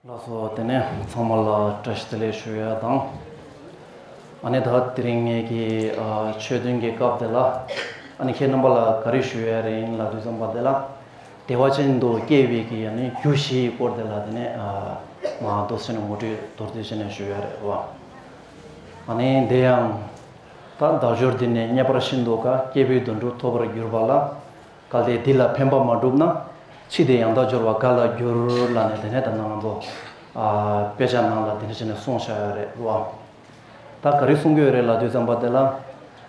ལགས་སོ། དེ་ནས་ཚང་མ་ལ་བཀྲ་ཤིས་བདེ་ལེགས་ཞུ་ཡ་དང། ཨ་ནེ་ད་དེ་རིང་ངེད་ཀྱི་ཆོས་བདུན་གྱི་སྐབས་དེ་ལ་ཨ་ནེ་ཁྱེད་རྣམ་པ་ལ་ག་རེ་ཞུ་ཡ་རེ་ཡིན་ལ་དུས་བཟང་པ་དེ་ལ་དེ་བ་ཅན་དུ་སྐྱེས་བའི་གི་ཡ་ནི་རྒྱུ་བཞི་ཡི་སྐོར་དེ་ལ་དེ་ནས་མ་རྡོ་སེ་ནས་ངོ་སྤྲོད་མདོར་བསྡུས་བྱས་ནས་ཞུ་ཡ་རེད་བ། ཨ་ནེ་འདི་ཡང། ད་བདག་སྦྱོར་འདི་ནས་རྙེད་པར་ཤིན་ཏུ་དགའ་སྐྱེས་བུའི་དུད་འགྲོ་ཐོབ་པར་གྱུར་པ་ལ། བཀའ་ལས་འདི་ལ་ཕན་པ་མ་བསྒྲུབས་ན། ཕྱིས་དེ་ཡང་བདག་སྦྱོར་བ་འགའ་ལ་འགྱུར་ལ་ནས་དེ་ནས་ད་ནངས་པོ། དཔེ་ཆ་ནང་ལ་འདི་འདྲ་བྱས་ནས་གསུངས་བཞག་ཡོད་རེད་བ། ད་ག་རེ་གསུང་གི་ཡོད་རེད་ལབ་དུས་བརྩམས་པ་དེ་ལ།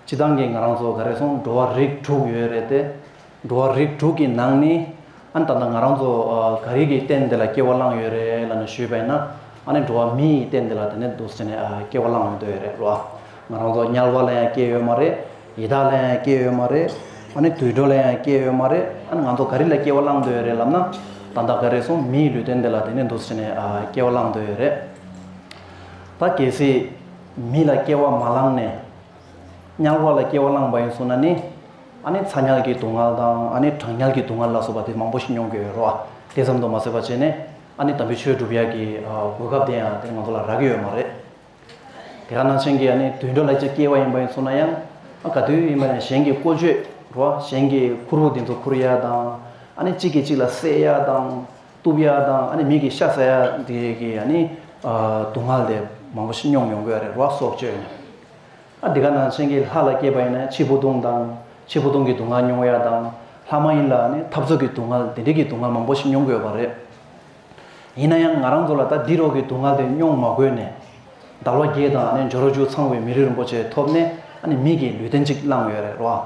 སྤྱི་བཏང་གིས་ང་རང་ཚོ་ག་རེ་སོང་འགྲོ་བ་རིགས་དྲུག་ཡོད་རེད་དེ། འགྲོ་བ་རིགས་དྲུག་གི་ནང་ནས། ཨ་ནི་ད་ལྟ་ང་རང་ཚོ་ག་རིགས་ཀྱི་རྟེན་འདི་ལ་སྐྱེ་བ་བླངས་ཡོད་རེད་ལབ་ནས་ཞུས་པས་ན། ཨ་ནི་འགྲོ་བ་མིའི་རྟེན་འདི་ལ་དེ་ནས་འདུག་ཟེར་ནས་སྐྱེ་བ་བླངས་ཡོང་དོན་ཡོད་རེད་རོ། ང་རང་ཚོ་དམྱལ་བ་ལ་ཡང་སྐྱེས་ཡོད་མ་རེད། ཡི་དྭགས་ལ་ཡང་སྐྱེས་ཡོད་མ་རེད། ཨ་ནི་དུད་འགྲོ་ལ་ཡང་སྐྱེས་ཡོད་མ་རེད། ཨ་ནི་ང་ཚོ་ག་རིགས་ལ་སྐྱེ་བ་བླངས་འདོད་ཡོད་རེད་ལབ་ན། ད་ལྟ་ག་རེ་སོང་མིའི་ལུས་རྟེན་འདི་ལ་དེ་ནས་འདུག་ཟེར་ནས་སྐྱེ་བ་བླངས་འདོད་ཡོད་རེད། ད་གལ་སྲིད། མི་ལ་སྐྱེ་བ་མ་བླངས་ནས། དམྱལ་བ་ལ་སྐྱེ་བ་བླངས་པ་ཡིན་གསུངས་ན་ནི། ཨ་ནེ་ཚ་ཉག་གི་སྡུག་བསྔལ་དང་ཨ་ནེ་གྲང་ཉག་གི་སྡུག་བསྔལ་ལ་སོགས་པ་དེ་མང་པོ་ཞིག་མྱོང་གི་ཡོད་རོ། དེ་ཙམ་དུ་མ་ཟད་པ་བྱས་ནས་ཨ་ནེ་དམ་པའི་ཆོས་སྒྲུབ་ཡག་གི་གོ་སྐབས་དེ་ཡང་དེ་ང་ཚོ་ལ་རག་གི་ཡོད་མ་རེད། དེ་ག་ནང་བཞིན་གྱི་ཨ་ནེ་དུད་འགྲོ་ལ་ཅིག་སྐྱེས་བ་ཡིན་པ་ཡིན་ཚོར་ན་ཡང་ཨ་ག་དུས་ཡིན་པ་ནས་གཞན་གྱི་བཀོལ་སྤྱོད་རོ་གཞན་གྱི་ཁུར་བོ་དེ་ཚོ་ཁུར་ཡག་དང་ཨ་ནེ་གཅིག་གིས་གཅིག་ལ་བསད་ཡག་དང་གཏུབ་ཡག་དང་ཨ་ནེ་མིག་གིས་ཤ་ཟ་ཡག་དེ་གི་ཨ་ནེ་སྡུག་བསྔལ་དེ་མང་པོ་ཞིག་མྱོང་མྱོང་གི་ཡོད་རེད་རོ་སྲོག་གཅོད་ནས། ཨ་དེ་ག་ནང་ཆེན་གྱི་ལྷ་ལ་སྐྱེས་པ་ཡིན་ན་ཕྱི་བོ་ལྟུང་དང། ཕྱི་བོ་ལྟུང་གི་སྡུག་བསྔལ་མྱོང་ཡ་དང། ལྷ་མ་ཡིན་ལ་ནི་འཐབ་རྩོད་ཀྱི་སྡུག་བསྔལ་དེ་འདྲིས་ཀྱི་སྡུག་བསྔལ་མང་པོ་ཞིག་མྱོང་དགོས་པ་རེད། ཡིན་ན་ཡང་ང་རང་ཚོ་ལ་ད་འདི་རོག་གི་སྡུག་བསྔལ་དེ་མྱོང་མ་དགོས་ནས། དར་བ་རྒྱས་དང་ནི་འཇོ་རོ་བཅུ་ཚང་བའི་མི་རིགས་རིན་པོ་ཆེ་ཐོབ་ནས་ཨ་ནི་མིག་གི་ལུས་རྟེན་ཅིག་བླངས་ཡོད་རེད་རོ།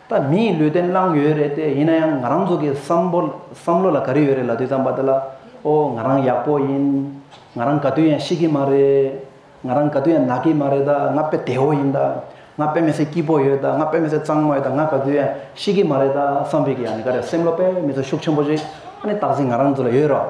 ད་མི་ཡིས་ལུས་རྟེན་བླངས་ཡོད་རེད་དེ་ཡིན་ན་ཡང་ང་རང་ཚོ་གི་བསམ་བོ་བསམ་བློ་ལ་ག་རེ་ཡོད་རེད་ལ་དུས་ཙམ་པ་དེ་ལ་ཨོ་ང་རང་ཡག་པོ་ཡིན་ང་རང་ག་དུས་ཡང་ཤི་གི་མ་རེད་ང་རང་ག་དུས་ཡང་ནག་གི་མ་རེད་ད་ང་དཔེ་བདེ་བོ་ཡིན་ད་ང་དཔེ་མི་སྲིད་སྐྱིད་པོ་ཡོད་ད་ང་དཔེ་མི་སྲིད་གཙང་མ་ཡོད་ད་ང་ག་དུས་ཡང་ཤི་གི་མ་རེད་ད་བསམ་བོད་ཀྱི་ཡང་ནི་ག་རེ་སེམས་བློ་དཔེ་མི་ཚོ་ཤུགས་ཆེན་པོ་ཞིག་ཨ་ནི་བཏགས་ཟིན་ང་རང་ཚོ་ལ་ཡོད་རོགས།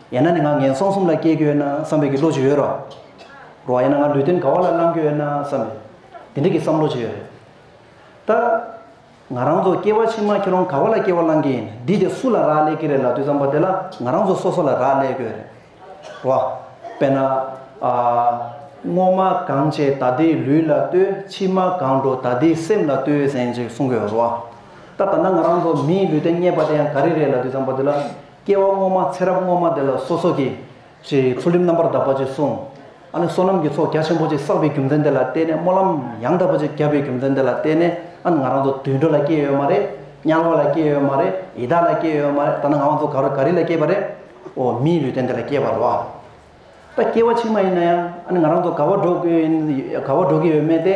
ཡང་ན་ནི་ང་ངན་སོང་གསུམ་ལ་སྐྱེ་རྒྱུ་ཡོད་ན་བསམ་པའི་གི་བློ་ཅི་ཡོད་རོ། རོ། ཡང་ན་ང་ལུས་རྟེན་དགའ་བ་ལ་བླང་རྒྱུ་ཡོད་ན་བསམ་པའི་དེ་འདྲའི་གི་བསམ་བློ་ཅི་ཡོད་རེད། ད། ང་རང་ཚོ་སྐྱེ་བ་ཕྱི་མ་ཁྱེད་རང་དགའ་བ་ལ་སྐྱེ་བ་བླང་གི་ཡིན་འདི་དེ་སུ་ལ་རག་ལས་ཀི་རེད་ལབ་དུས་བསམ་པ་དེ་ལ་ང་རང་ཚོ་སོ་སོ་ལ་རག་ལས་དགོས་རེད། རོ། དཔེར་ན། སྔོ་མ་གང་བྱས་ད་དེའི་ལུས་ལ་ལྟོས་ཕྱི་མ་གང་འགྲོ་ད་དེའི་སེམས་ལ་ལྟོས་ཟེན་ཅིག་གསུང་དགོས་རོ། ད་ད་ནང་ང་རང་ཚོ་མིའི་ལུས་རྟེན་རྙེད་པ་དེ་ཡང་ག་རེ་རེད་ལབ་དུས་བསམ་པ་དེ་ལ། སྐྱེ་བ་སྔོན་མ་ཚེ་རབས་སྔོན་མ་དེ་ལ་སོ་སོ་གི། ཅེས་ཚུལ་ཁྲིམས་རྣམ་པར་དག་པ་ཅེས་གསུངས། ཨ་ནི་བསོད་ནམས་ཀྱི་ཚོགས་རྒྱ་ཆེན་པོ་ཅིག་བསགས་པའི་རྒྱུ་མཚན་དེ་ལ་བརྟེན་ནས་སྨོན་ལམ་ཡང་དག་པ་ཅིག་བརྒྱབ་པའི་རྒྱུ་མཚན་དེ་ལ་བརྟེན་ནས་ཨ་ནི་ང་རང་ཚོ་དུད་འགྲོ་ལ་སྐྱེས་ཡོད་མ་རེད། དམྱལ་བ་ལ་སྐྱེས་ཡོད་མ་རེད་ཡི་དྭགས་ལ་སྐྱེས་ཡོད་མ་རེད་ད་ནི་ང་ཚོ་ག་རུ་ག་རི་ལ་སྐྱེས་པ་རེད། འོ་མིའི་ལུས་རྟེན་དེ་ལ་སྐྱེས་པར་རོ། ད་སྐྱེ་བ་ཕྱི་མ་ཡིན་ན་ཡང་ཨ་ནི་ང་རང་ཚོ་ག་བ་འགྲོ་གི་ཡིན་ག་བ་འགྲོ་གི་ཡོད་མེད་དེ།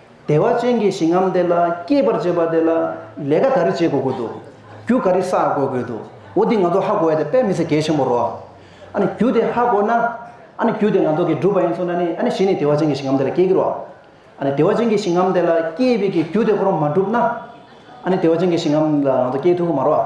བདེ་བ་ཅན་གྱི་ཞིང་ངམ་དེ་ལ་སྐྱེས་པར་བྱེད་པ་དེ་ལ་ལས་ཀ་ག་རེ་བྱེད་དགོས་དགོས་འདུག་རྒྱུ་ག་རེ་བསགས་དགོས་དགོས་འདུག་འོ་འདི་ང་ཚོ་ཧ་གོ་བ་དེ་དཔེ་མི་ཚེ་གལ་ཆེན་པོ་རོགས། ཨ་ནི་རྒྱུ་དེ་ཧ་གོ་ན། ཨ་ནི་རྒྱུ་དེ་ང་ཚོ་གིས་བསྒྲུབས་པ་ཡིན་ཚོ་ན་ནི་ཨ་ནི་གཞི་ནས་བདེ་བ་ཅན་གྱི་ཞིང་ངམ་དེ་ལ་སྐྱེ་གི་རོགས། ཨ་ནི་བདེ་བ་ཅན་གྱི་ཞིང་ངམ་དེ་ལ་སྐྱེས་པའི་གི་རྒྱུ་དེ་ཁོ་རང་མ་བསྒྲུབས་ན། ཨ་ནི་བདེ་བ་ཅན་གྱི་ཞིང་ངམ་ལ་ང་ཚོ་སྐྱེ་ཐུབ་ཀི་མ་རོགས།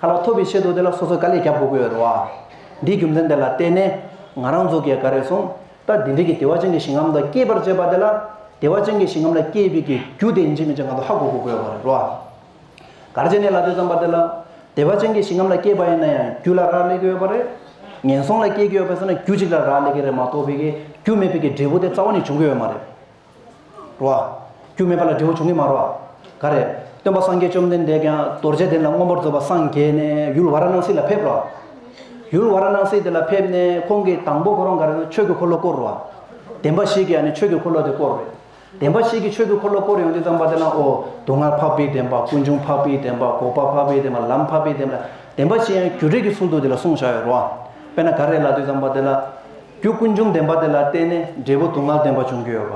ཁ་ལ་ཐོབ་པའི་ཆེད་དུ་དེ་ལ་སོ་སོས་ག་ལེར་བརྒྱབ་དགོས་ཀྱི་ཡོད་རེད་བ། འདིའི་རྒྱུ་མཚན་དེ་ལ་བལྟས་ནས་ང་རང་ཚོ་གས་ག་རེ་སོང་ད་དེ་འདྲས་ཀྱི་དེ་བ་ཅན་གྱི་ཞིང་ཁམས་དང་སྐྱེས་པར་བྱས་པ་དེ་ལ་དེ་བ་ཅན་གྱི་ཞིང་ཁམས་ལ་སྐྱེས་པའི་གི་རྒྱུ་དེ་འཇིག་མི་འཇིག་ང་ཚོ་ཧ་གོ་དགོས་ཀྱི་ཡོད་རེད་བ། གར་བྱས་ནས་ལ་དེ་ཙམ་པ་དེ་ལ་དེ་བ་ཅན་གྱི་ཞིང་ཁམས་ལ་སྐྱེས་པ་ཡིན་ན་ཡང་རྒྱུ་ལ་རག་ལས་ཀྱི་ཡོད་པ་རེད། ངན་སོང་ལ་སྐྱེས་ཀྱི་ཡོད་པས་སོ་ན་རྒྱུ་གཅིག་ལ་རག་ལས་ཀྱི་རེད་མ་གཏོགས་པའི་གི་རྒྱུ་མེད་པའི་གི་འབྲས་བུ་དེ་རྩ་བ་ནས་འབྱུང་གི་ཡོད་མ་རེད། རོ། རྒྱུ་མེད་པ་ལ་འབྲས་བུ་འབྱུང་གིན་མ་རོ། ག་རེ། སྟོན་པ་སངས་རྒྱས་བཅོམ་ལྡན་འདས་ཀྱང་རྡོ་རྗེ་གདན་ལ་མངོན་པར་རྫོགས་པར་སངས་རྒྱས་ནས་ཡུལ་བ་ར་ནང་སྲིད་ལ་ཕེབས་རོ། ཡུལ་བ་ར་ནང་སྲིད་དེ་ལ་ཕེབས་ནས་ཁོང་གིས་དང་པོ་ཁོ་རང་ག་རེ་ན་ཆོས་ཀྱི་འཁོར་ལོ་བསྐོར་རོ། བདེན་པ་ཞིག་གིས་ནི་ཆོས་ཀྱི་འཁོར་ལོ་དེ་བསྐོར་རོ། བདེན་པ་ཞིག་གིས་ཆོས་ཀྱི་འཁོར་ལོ་བསྐོར་ཡོང་དུས་ཙམ་པ་དེ་ན་ཨོ། སྡུག་བསྔལ་འཕགས་པའི་བདེན་པ་ཀུན་འབྱུང་འཕགས་པའི་བདེན་པ་འགོག་པ་འཕགས་པའི་བདེན་པ་ལམ་འཕགས་པའི་བདེན་པ་བདེན་པ་ཞེས་ཡང་རྒྱུ་འབྲས་ཀྱི་ཚུལ་དུ་དེ་ལ་གསུང་བྱ་བའི་རོ། དཔེར་ན་ག་རེ་ལ་དུས་ཙམ་པ་དེ་ལ། རྒྱུ་ཀུན་འབྱུང་བདེན་པ་དེ་ལ་བརྟེན་ནས་འབྲས་བུ་དུག་ལྔ་བདེན་པ་འབྱུང་གི་ཡོད་པ།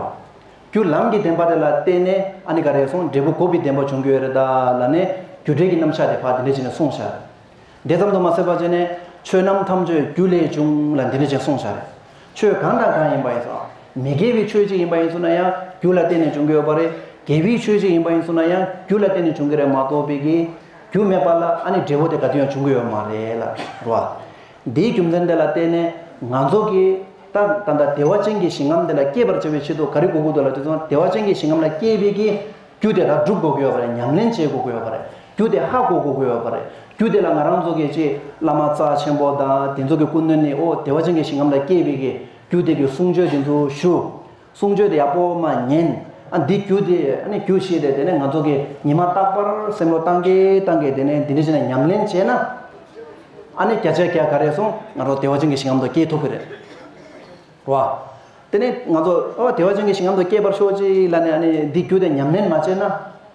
རྒྱུ་ལམ་གྱི་བདེན་པ་དེ་ལ་བརྟེན་ནས་ཨ་ནི་ག་རེ་སོང་འབྲས་བུ་གོ་བི་བདེན་པ་འབྱུང་གི་ཡོད་རེད་ད་ལ་ནས་རྒྱུ་འབྲས་ཀྱི་རྣམ་གཞག་དེ་བར་འདི་འདྲ་བྱས་ནས་གསུངས་བཞག་རེད། དེ་ཙམ་དུ་མ་ཟད་པ་བྱས་ནས་ཆོས་རྣམས་ཐམས་ཅད་རྒྱུ་ལས་བྱུང་ལ་འདི་འདྲ་བྱས་གསུངས་བཞག་རེད། ཆོས་གང་དང་གང་ཡིན་པ་ཡིན་ཙང་མི་དགེ་བའི་ཆོས་གཅིག་ཡིན་པ་ཡིན་ཚུལ་ན་ཡང་རྒྱུ་ལ་བརྟེན་ནས་འབྱུང་གི་ཡོད་པ་རེད། དགེ་བའི་ཆོས་གཅིག་ཡིན་པ་ཡིན་ཚུལ་ན་ཡང་རྒྱུ་ལ་བརྟེན་ནས་འབྱུང་གི་རེད་མ་གཏོགས་བི་གིས་རྒྱུ་མེད་པ་ལ་ཨ་ནི་འབྲས་བུ་དེ་ག་དུས་ཡང་འབྱུང་གི་ཡོད་མ་རེད་ལ་རོ། འདིའི་རྒྱུ་མཚན་དེ་ལ་བརྟེན་ནས་ང་ཚོ་གིས་ད་ད་ལྟ་བདེ་བ་ཅན་གྱི་ཞིང་ཁམས་དེ་ལ་སྐྱེས་པར་བྱ་བའི་ཆེད་དུ་ག་རེ་དགོས་དགོས་དོ་ལ་དེ་ཚོ་བདེ་བ་ཅན་གྱི་ཞིང་ཁམས་ལ་སྐྱེས་པའི་གི་རྒྱུ་དེ་དག་བསྒྲུབ་དགོས་ཀྱི་ཡོད་པ་རེད་ཉམས་ལེན་བྱེད་དགོས་ཀྱི་ཡོད་པ་རེད་རྒྱུ་དེ་ཧ་གོ་དགོས་ཀྱི་ཡོད་པ་རེད་རྒྱུ་དེ་ལ་ང་རང་ཚོ་གིས་ཅི་བླ་མ་རྩ་ཆེན་པོ་དང་དེ་ཚོ་གི་སྐུ་མདུན་ནས་ཨོ་བདེ་བ་ཅན་གྱི་ཞིང་ཁམས་ལ་སྐྱེས་པའི་གི་རྒྱུ་དེ་གི་གསུང་ཆོས་དེ་ཚོ་ཞུ། གསུང་ཆོས་དེ་ཡག་པོ་མ་ཉན། ཨ་འདི་རྒྱུ་དེ་ཨ་ནི་རྒྱུ་ཞིག་རེད་དེ་ནས་ང་ཚོ་གི་ཉི་མ་རྟག་པར་སེམས་བློ་གཏང་གིན་གཏང་གིན་དེ་ནས་འདི་འདྲི་བྱས་ནས་ཉམས་ལེན་བྱས་ན། ཨ་ནི་བརྒྱ་ཆའི་བརྒྱ་ག་རེ་ཟུང་ང་ཚོ་བདེ་བ་ཅན་གྱི་ཞིང་ཁམས་དུ་སྐྱེ་ཐུབ་ཀྱི་རེད། བ། དེ་ནས་ང་ཚོ་ཨོ་བདེ་བ་ཅན་གྱི་ཞིང་ཁམས་དུ་སྐྱེས་པར་ཤོག་ཅིག་ལ་ནས་ཨ་ནི་འདི་རྒྱུ་དེ་ཉམས་ལེན་མ་བྱས་ན།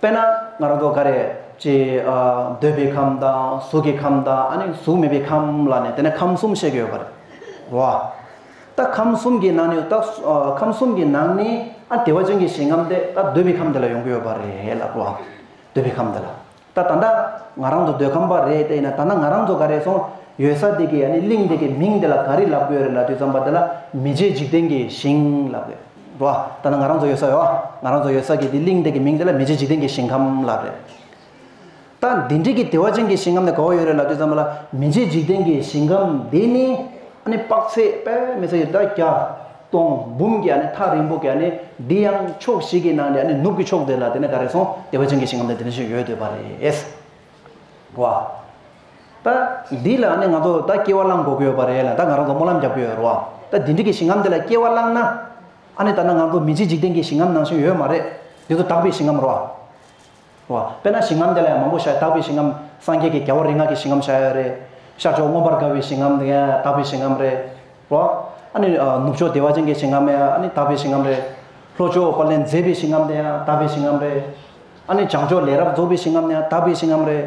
དཔེར་ན་ང་རང་ཚོ་ག་རེ་ཅི་འདོད་པའི་ཁམས་དང་གཟུགས་ཀྱི་ཁམས་དང་ཨ་ནི་གཟུགས་མེད་པའི་ཁམས་ལ་ནི་དེ་ནས་ཁམས་གསུམ་བཤད་ཀྱི་ཡོད་པ་རེད་བ། ད་ཁམས་གསུམ་གྱི་ནང་ནས་ད་ཁམས་གསུམ་གྱི་ནང་ནས་ཨ་བདེ་བ་ཅན་གྱི་ཞིང་ཁམས་དེ་ད་འདོད་པའི་ཁམས་དེ་ལ་ཡོང་གི་ཡོད་པ་རེད་ལབ་བ། འདོད་པའི་ཁམས་དེ་ལ་ད་ད་ལྟ་ང་རང་ཚོ་འདོད་ཁམས་པ་རེད་དེ་ཡིན་ན་ད་ནང་ང་རང་ཚོ་ག་རེ་སོང་ཡོད་ས་དེ་གའི་ཨ་ནི་གླིང་དེ་གའི་མིང་དེ་ལ་ག་རེ་ལབ་དགོས་རེད་ལབ་དུས་ཙམ་པ་དེ་ལ་མི་མཇེད་འཇིག་རྟེན་གྱི་ཞིང་ལབ་དགོས། བ། ད་ནི་ང་རང་ཚོ་ཡོད་ས་ཡོད་ཨ། ང་རང་ཚོ་ཡོད་ས་གི་དེ་གླིང་དེ་གི་མིང་དེ་ལ་མི་རྗེ་འཇིག་རྟེན་གྱི་ཞིང་ཁམས་ལབ་རེད། ད་འདི་འདྲིས་ཀྱི་བདེ་བ་ཅན་གྱི་ཞིང་ཁམས་ནི་ག་བོ་ཡོད་རེད་ལབ་དུས་ཙང་མ་ལ་མི་རྗེ་འཇིག་རྟེན་གྱི་ཞིང་ཁམས་འདི་ནི་ཨ་ནི་དཔག་ཚད་དཔལ་མི་ཚད་ཀྱི་ད་བརྒྱ། སྟོང། འབུམ་གྱི་ཨ་ནི་ཐག་རིང་པོ་གི་ཨ་ནི་འདི་ཡང་ཕྱོགས་བཞི་གི་ནང་ནས་ཨ་ནི་ནུབ་ཀྱི་ཕྱོགས་དེ་ལ་དེ་ནི་ག་རེ་སོང་བདེ་བ་ཅན་གྱི་ཞིང་ཁམས་དེ་འདི་འདྲ་ཞིག་ཡོད་འདོད་པ་རེད། བ། ད་འདི་ལ་ནི་ང་ཚོ་ད་སྐྱེ་བ་བླངས་དགོས་ཀྱི་ཡོད་པ་རེད་ལ་ད་ང་རང་ཚོ་སྨོན་ལམ་རྒྱག་གི་ཡོད་རེད་བ། ད་འདི་འདྲི་གི་ཞིང་ཁམས་འདི་ལ་སྐྱེ་བ་བླངས་ན། ཨ་ནི་ད་ནང་ང་ཚོ་མི་ཚེ་འཇིག་རྟེན་གྱི་ཞིང་ཁམས་ནང་བཞིན་ཡོད་མ་རེད། འདི་ཚོ་དག་པའི་ཞིང་ཁམས་རེད་བ། བ། དཔེར་ན་ཞིང་ཁམས་འདི་ལ་ཡང་མང་པོ་བཞག་དག་པའི་ཞིང་ཁམས་སངས་རྒྱས་ཀྱི་རྒྱལ་བ་རིག་སྔགས་ཀྱི་ཞིང་ཁམས་བཞག་ཡོད་རེད། ཤར་ཕྱོགས་མངོན་པར་དགའ་བའི་ཞིང་ཁམས་འདི་ཡང་དག་པའི་ཞིང་ཁམས་རེད་བ། ཨ་ནི་ནུབ་ཕྱོགས་བདེ་བ་ཅན་གྱི་ཞིང་ཁམས་ཡང་ཨ་ནི་དག་པའི་ཞིང་ཁམས་རེད། ལྷོ་ཕྱོགས་པ་ལས་མཛེས་པའི་ཞིང་ཁམས་འདི་ཡང་དག་པའི་ཞིང་ཁམས་རེད། ཨ་ནི་བྱང་ཕྱོགས་ལས་རབ་རྫོགས་པའི་ཞིང་ཁམས་ནི་ཡང་དག་པའི་ཞིང་ཁམས་རེད།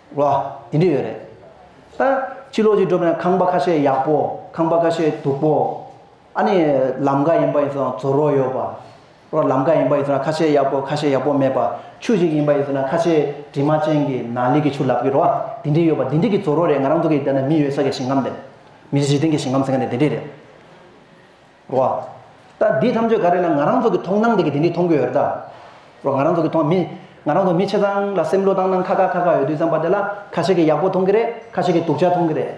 བ། དེ་འདྲས་ཡོད་རེད། ད། ཕྱི་ལོགས་ཀྱི་འགྲོ་ཕན་ཁང་པ་ཁ་ཤས་ཡག་པོ། ཁང་པ་ཁ་ཤས་སྡུག་པོ། ཨ་ནི། ལམ་ཀ་ཡིན་པ་ཡིན་ཚོད་ན་ཚོར་བ་ཡོད་པ། རོ་ལམ་ཀ་ཡིན་པ་ཡིན་ཚོད་ན་ཁ་ཤས་ཡག་པོ་ཁ་ཤས་ཡག་པོ་མེད་པ། ཆུ་ཞིག་ཡིན་པ་ཡིན་ཚོད་ན་ཁ་ཤས་དྲི་མ་ཅན་གྱི་ན་ལི་གི་ཆུ་ལབ་གི་རོ། དེ་འདྲས་ཡོད་པ་དེ་འདྲས་ཀྱི་ཚོར་བ་རེད་ང་རང་འདུག་གི་དེ་ན་མི་ཡོད་ས་གི་ཞིང་ཁམས་རེད། མི་ཞིག་དེང་གི་ཞིང་ཁམས་ཟེར་མཁན་དེ་དེ་འདྲས་རེད། བ། ད་འདི་ཐམས་ཅད་ག་རེ་ལ་ང་རང་ཚོ་གི་མཐོང་སྣང་དེ་གི་དེ་འདི་མཐོང་གི་ཡོད་རེད་ད། ང་རང་ཚོ་གི་མཐོང་མི། ང་རང་ཚོ་མི་ཆེ་ཚང་ལ་སེམས་བློ་བཏང་སྣང་ཁ་ཁ་ཁ་ཁ་ཡོད་དུས་ཙམ་པ་དེ་ལ་ཁ་ཤས་ཀི་ཡག་པོ་མཐོང་གི་རེད་ཁ་ཤས་ཀི་སྡུག་ཅག་མཐོང་གི་རེད།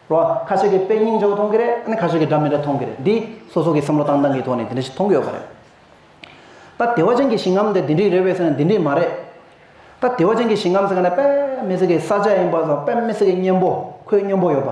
བ། ཁ་ཤས་ཀི་དཔེ་སྙིང་ཅོག་མཐོང་གི་རེད་ཨ་ནི་ཁ་ཤས་ཀི་འདྲ་མི་འདྲ་མཐོང་གི་རེད་འདི་སོ་སོ་གི་སེམས་བློ་བཏང་སྣང་གི་ཐོག་ནས་དེ་འདྲ་ཞིག་མཐོང་གི་ཡོད་པ་རེད། ད་བདེ་བ་ཅན་གི་ཞིང་ཁམས་དེ་འདི་འདྲིག་རེད་བས་ཟེར་ན་འདི་འདྲིག་མ་རེད། ད་བདེ་བ་ཅན་གི་ཞིང་ཁམས་ཟེར་ག་ནས་དཔལ་མི་སེར་གི་ས་ཆ་ཡིན་པ་ཟེར་ན་དཔལ་མི་སེར་གི་གཉེན་པོ་ཁོའི་སྨྱོན་པོ་ཡོད་པ།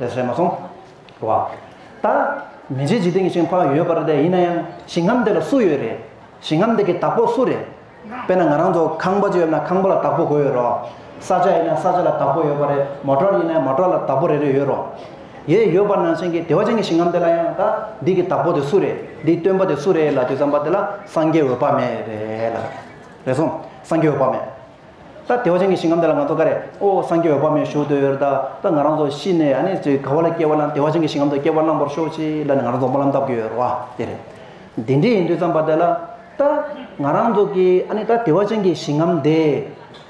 ལས་བྱས་མ་སོང་བ། ད་མི་བྱེད་འཇིག་རྟེན་གྱི་ཞིང་ཕ་ཡོད་པར་བསྡད་ཡིན་ན་ཡང་ཞིང་ཁམས་དེ་ལ་སུ་ཡོད་རེད། ཞིང་ཁམས་དེ་གི་བདག་པོ་སུ་རེད། དཔེར་ན་ང་རང་ཚོ་ཁང་པ་ཅིག་ཡོད་ན་ཁང་པ་ལ་བདག་པོ་དགོས་ཡོད་རོ། ས་ཆ་ཡིན་ན་ས་ཆ་ལ་བདག་པོ་ཡོད་པ་རེད་མོ་ཏོར་ཡིན་ན་མོ་ཏོར་ལ་བདག་པོ་རེ་རེ་ཡོད་རོ། ཡེ་ཡོད་པ་ནང་བཞིན་གྱི་བདེ་བ་ཅན་གྱི་ཞིང་ཁམས་དེ་ལ་ཡང་ད་འདི་གི་བདག་པོ་དེ་སུ་རེད་འདིའི་སྟོན་པ་དེ་སུ་རེད་ལ་དུས་བསམ་པ་དེ་ལ་སངས་རྒྱས་འོད་དཔག་མེད་རེད་ལ། རེད་སོང་སངས་རྒྱས་འོད་དཔག་མེད། ད་དེ་བ་ཅན་གྱི་ཞིང་ཁམས་དེ་ལ་ང་ཚོ་ག་རེ་ཨོ་སངས་རྒྱས་འོད་དཔག་མེད་བཞུགས་འདོད་ཡོད་ད་ད་ང་རང་ཚོ་ཤི་ནས་ཨ་ནི་ཚེ་ག་བ་ལ་སྐྱེ་བ་བླངས་དེ་བ་ཅན་གྱི་ཞིང་ཁམས་དུ་སྐྱེ་བ་བླངས་པར་ཤོག་ཅིག་ལ་ནི་ང་རང་ཚོ་སྨོན་ལམ་བཏབ་ཀྱི་ཡོད་རེད་བ་དེ་རེད། འདི་འདྲས་ཡིན་དུས་ཙམ་པ་དེ་ལ་ད་ང་རང་ཚོ་གི་ཨ་ནི་ད་དེ་བ་ཅན་གྱི་ཞིང་ཁམས་དེ་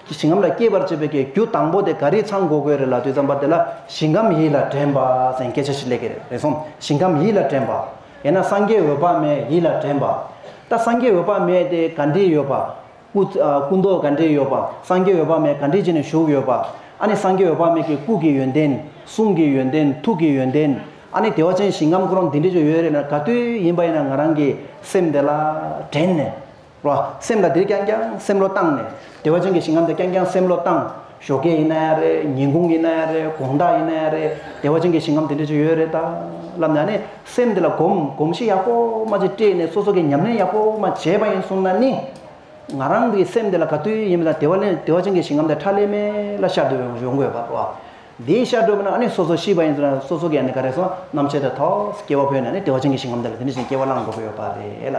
གི་ཞིང་ཁམས་ལ་སྐྱེས་པར་བྱེད་པའི་གི་རྒྱུ་དང་པོ་དེ་ག་རེ་ཚང་དགོས་དགོས་རེད་ལ་དུས་ཙམ་པ་དེ་ལ་ཞིང་ཁམས་ཡིད་ལ་དྲན་པ་ཟེར་སྐད་ཆ་ཞིག་སླེབས་ཀྱི་རེད་རེད་སོང་ཞིང་ཁམས་ཡིད་ལ་དྲན་པ་ཡེ་ན་སངས་རྒྱས་འོད་དཔག་མེད་ཡིད་ལ་དྲན་པ་ད་སངས་རྒྱས་འོད་དཔག་མེད་དེ་ག་འདྲས་ཡོད་པ། སྐུ། སྐུ་མདོག་ག་འདྲེས་ཡོད་པ། སངས་རྒྱས་འོད་དཔག་མེད་ག་འདྲེས་བྱས་ནས་བཞུགས་ཡོད་པ། ཨ་ནི་སངས་རྒྱས་འོད་དཔག་མེད་ཀྱི་སྐུ་གི་ཡོན་ཏན། གསུང་གི་ཡོན་ཏན་ཐུགས་ཀྱི་ཡོན་ཏན། ཨ་ནི་བདེ་བ་ཅན་ཞིང་ཁམས་འཁོར་བ་འདི་འདྲས་ཀྱང་ཡོད་རེད་ན་ག་དུས་ཡིན་པ་ཡིན་ན་ང་རང་གི་སེམས་དེ་ལ་དྲན་ནས། རོ། སེམས་ལ་འདིར་རྐྱང་རྐྱང་སེམས་བློ་བཏང་ནས། བདེ་བ་ཅན་གྱི་ཞིང་ཁམས་དེ་རྐྱང་རྐྱང་སེམས་བློ་བཏང། ཞོ་སྐད་ཡིན་ན་ཡང་རེད་ཉིན་གུང་ཡིན་ན་ཡང་རེད་དགོངས་དག་ཡིན་ན་ཡང་རེད་བདེ་བ་ཅན་གྱི་ཞིང་ཁམས་དེ་འདྲ་ཅིག་ཡོད་རེད་ད། ལབ་ན་ནི་སེམས་དེ་ལ་སྒོམ་སྒོམ་གཞི་ཡག་པོ་མ་ཅིག་སྤྲད་ནས་སོ་སོ་གས་ཉམས་ལེན་ཡག་པོ་མ་བྱས་པ་ཡིན་གསུང་ན་ནི། ང་རང་གི་སེམས་དེ་ལ་ག་དུས་ཡིན་མིན་དང་བདེ་བ་ལེན་བདེ་བ་ཅན་གྱི་ཞིང་ཁམས་དེ་ཁྲ་ལེ་མེ་ལ་ཤར་དུ་ཡོང་ཡོང་དགོས་པ་རེད་བ། དེའི་ཤར་བགྲོད་པ་ན་ཨ་ནི་སོ་སོ་ཤི་བ་ཡིན་ཟེར་ན་སོ་སོ་གས་ཨ་ནི་ག་རེ་སོང་ནམ་ཕྱེད་དེ་ཐོགས་སྐྱེ་བ་ཕོད་ནས་ནི་བདེ་བ་ཅན་གྱི་ཞིང་ཁམས་དེ་ལ་དེ་འདྲ་ཞིག་སྐྱེ་བ་བླང་དགོས་པ་ཡོད་པ་རེད་ལ།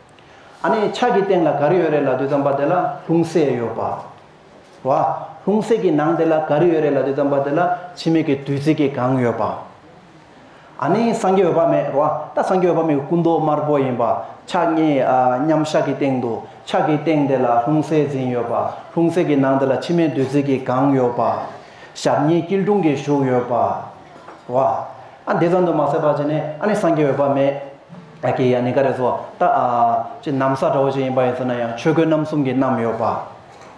ཨ་ནི་ཕྱག་གི་སྟེང་ལ་ག་རེ་ཡོད་རེད་ལ་དུས་ཙམ་པ་དེ་ལ་ལྷུང་བཟེད་ཡོད་པ། བ། ལྷུང་བཟེད་ཀྱི་ནང་དེ་ལ་ག་རེ་ཡོད་རེད་ལ་དུས་ཙམ་པ་དེ་ལ་འཆི་མེད་ཀྱི་བདུད་རྩི་གི་གངས་ཡོད་པ། ཨ་ནི་སངས་རྒྱས་འོད་དཔག་མེད་བ། ད་སངས་རྒྱས་འོད་དཔག་མེད་ཀྱི་སྐུ་མདོག་དམར་པོ་ཡིན་པ། ཕྱག་གཉིས་མཉམ་བཞག་གི་སྟེང་དུ་ཕྱག་གི་སྟེང་དེ་ལ་ལྷུང་བཟེད་འཛིན་ཡོད་པ། ལྷུང་བཟེད་ཀྱི་ནང་དེ་ལ་འཆི་མེད་བདུད་རྩི་གི་གངས་ཡོད་པ། ཞབས་གཉིས་སྐྱིལ་ཀྲུང་གིས་བཞུགས་ཡོད་པ། བ། ཨ་འདི་ཙམ་དུ་མ་ཟད་པ་ཅི་ནས་ཨ་ནི་སངས་རྒྱས་འོད་དཔག་མེད། ཨ་ཀེ་ཡ་ནི་ཀ་རེ་སོ་ད་ཨ་ཅི་གནམ་ས་འདྲ་བོ་ཞིག་ཡིན་པ་ཡིན་ཟེར་ན་ཡང་ཆོས་གོས་རྣམ་གསུམ་གྱི་རྣམ་ཡོད་པ་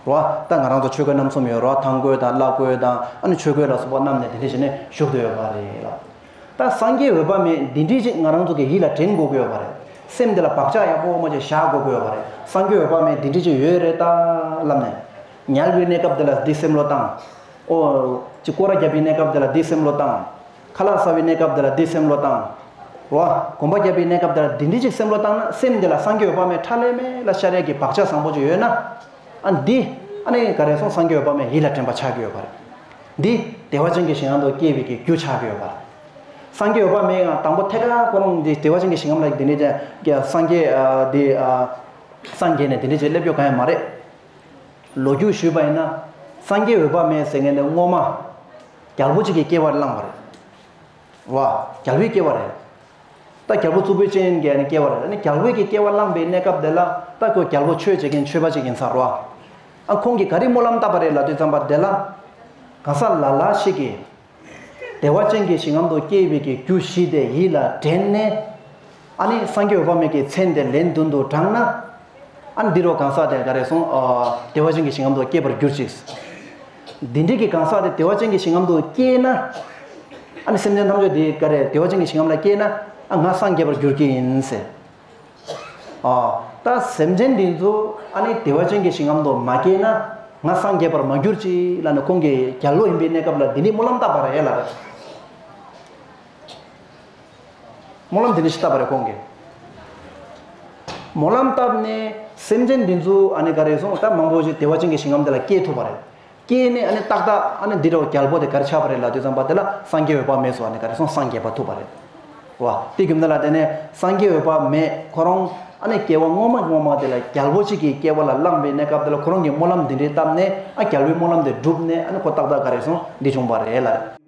རོ་ད་ང་རང་ཚོ་ཆོས་གོས་རྣམ་གསུམ་ཡོད་རོ་ཐང་གོས་དང་བླ་གོས་དང་ཨ་ནི་ཆོས་གོས་ལ་སོགས་པ་རྣམ་ནས་དེ་འདྲས་བྱས་ནས་བཞུགས་དུ་ཡོད་པ་རེད་ལ། ད་སངས་རྒྱས་འོད་དཔག་མེད་འདི་འདྲས་ཅིག་ང་རང་ཚོ་གི་ཡིད་ལ་དྲན་དགོས་ཀྱི་ཡོད་པ་རེད་སེམས་འདི་ལ་བག་ཆགས་ཡག་པོ་མ་ཅིག་བཞག་དགོས་ཀྱི་ཡོད་པ་རེད་སངས་རྒྱས་འོད་དཔག་མེད་འདི་འདྲས་ཅིག་ཡོད་རེད་ད་ལབ་ནས། ཉལ་བའི་གནས་སྐབས་འདི་ལ་འདི་སེམས་བློ་བཏང། ཨོ། ཅི་སྐོར་ར་རྒྱབ་པའི་གནས་སྐབས་འདི་ལ་འདི་སེམས་བློ་བཏང། ཁ་ལག་སྲ་བའི་གནས་སྐབས་འདི་ལ་འདིས་སེམས་བློ་བཏང། བ། གོམ་པ་རྒྱབ་པའི་གནས་སྐབས་འདི་ལ་འདིས་འདི་གཅིག་སེམས་བློ་བཏང་ན་སེམས་འདི་ལ་སངས་རྒྱས་འོད་དཔག་མེད་ཕྲ་ལས་མེད་ལ་ཤཱ་རད་ཀྱི་བག་ཆགས་བཟང་པོ་ཅིག་ཡོད་ན། ཨ་འདི། ཨ་ནི་ག་རེ་སོང་སངས་རྒྱས་འོད་དཔག་མེད་ཡིད་ལ་དྲན་པ་ཆགས་ཀྱི་ཡོད་པ་རེད། འདི། བདེ་བ་ཅན་གྱི་ཞིང་ངམ་དུ་སྐྱེ་བའི་གི་རྒྱུ་ཆགས་ཀྱི་ཡོད་པ་རེད། སངས་རྒྱས་འོད་དཔག་མེད་ཡང་དང་པོ་ཐད་ཀར་ཁོ་རང་འདི་བདེ་བ་ཅན་གྱི་ཞིང་ངམ་ལ་འདི་འདྲའི་ཅན་གྱི་སངས་རྒྱས་འདི། སངས་རྒྱས་ནས་འདི་འདྲའི་ཅན་སླེབས་ཡོད་ག་ཡང་མ་རེད། ལོ་རྒྱུས་ཞུས་པ་ཡིན་ན། སངས་རྒྱས་འོད་དཔག་མེད་ཟེར་མཁན་འདི་སྔོན་མ། རྒྱལ་པོ་གཅིག་གིས་སྐྱེ་བར་བླངས་པ་རེད། བ། རྒྱལ་པོས་སྐྱེ་བ་རེད། ད་རྒྱལ་པོ་གཙུག་པོའི་སྤྱན་གྱིས་ནི་སྐྱེ་བ་རེད། ནི་རྒྱལ་བོས་ཀྱིས་སྐྱེ་བ་བླངས་པའི་གནས་སྐབས་དེ་ལ་ད་ཁོས་རྒྱལ་པོ་ཆོས་བྱེད་མཁན་ཆོས་པ་གཅིག་ཡིན་ཚར་བ། ཨ་ཁོང་གིས་ག་རེ་སྨོན་ལམ་བཏབ་པ་རེད་ལ་དུས་འཛམ་པ་དེ་ལ། གང་ཟག་ལ་ལ་ཞིག་གིས། བདེ་བ་ཅན་གྱི་ཞིང་ངམ་དུ་སྐྱེས་པའི་གི་རྒྱུ་བཞི་དེ་ཡིད་ལ་དྲན་ནས། ཨ་ནི་སངས་རྒྱས་འོད་དཔག་མེད་ཀྱི་མཚན་དེ་ལན་བདུན་དུ་བགྲངས་ན། ཨ་ནི་འདི་རུ་གང་ཟག་དེ་འགའ་རེ་ཟུང་བདེ་བ་ཅན་གྱི་ཞིང་ངམ་དུ་སྐྱེས་པར་གྱུར་ཅིག། འདི་འདྲིས་ཀྱི་གང་ཟག་དེ་བདེ་བ་ཅན་གྱི་ཞིང་ངམ་དུ་སྐྱེས་ན། ཨ་ནི་སེམས་ཅན་ཐམས་ཅད་འདི་འགའ་རེ་བདེ་བ་ཅན་གྱི་ཞིང་ངམ་ལ་སྐྱེས་ན་ཨ་ང་སངས་རྒྱས་པར་འགྱུར་གྱི་ཡིན། ད་སེམས་ཅན་འདི་ཚོ་ཨ་ནི་བདེ་བ་ཅན་གྱི་ཞིང་ངམ་དུ་མ་སྐྱེས་ན་ང་སངས་རྒྱས་པར་མ་གྱུར་ཅིག་ལ་ནི་ཁོང་གིས་རྒྱལ་པོ་ཡིན་པའི་གནས་སྐབས་ལ་འདི་ནི་སྨོན་ལམ་བཏབ་པ་རེད་ལ། སྨོན་ལམ་འདི་ནི་ཞེས་བཏབ་པ་རེ་སྐོང་གི། སྨོན་ལམ་བཏབ་ནས་སེམས་ཅན་འདི་ཚོ་ཨ་ནི་ག་རེ་སོང་ད་མང་པོ་ཞིག་བདེ་བ་ཅན་གྱི་ཞིང་ཁམས་འདི་ལ་སྐྱེས་ཐུབ་པ་རེད། སྐྱེས་ནས་ཨ་ནི་ཏག་ཏག་ཨ་ནི་འདི་འདྲ་བ་རྒྱལ་པོ་དེ་གར་ཆགས་པ་རེད་ལ་དུས་ཙམ་པ་དེ་ལ་སངས་རྒྱས་འོད་དཔག་མེད་སོགས་ཨ་ནི་ག་རེ་སོང་སངས་རྒྱས་པ་ཐུབ་པ་རེད། བ་དེ་གྱུར་ན་ལ་དེ་ནས་སངས་རྒྱས་འོད་དཔག་མེད་ཁོ་རང་ཨ་ནི་སྐྱེ་བ་སྔོན་མ་སྔོན་མ་དེ་ལ་རྒྱལ་པོ་ཅིག་གི་སྐྱེ་བ་ལ་བླངས་པའི་གནས་སྐབས་དེ་ལ་ཁོ་རང་གིས་སྨོན་ལམ་འདི་འདྲའི་བཏབ་ནས་ཨ་རྒྱལ་པོའི་སྨོན་ལམ་དེ་བསྒྲུབས་ནས་ཨ་ནི་ཁོ་ཏག་ཏག་ག་རེ་སོང་འདི་བྱུང་བ་རེད་ལ།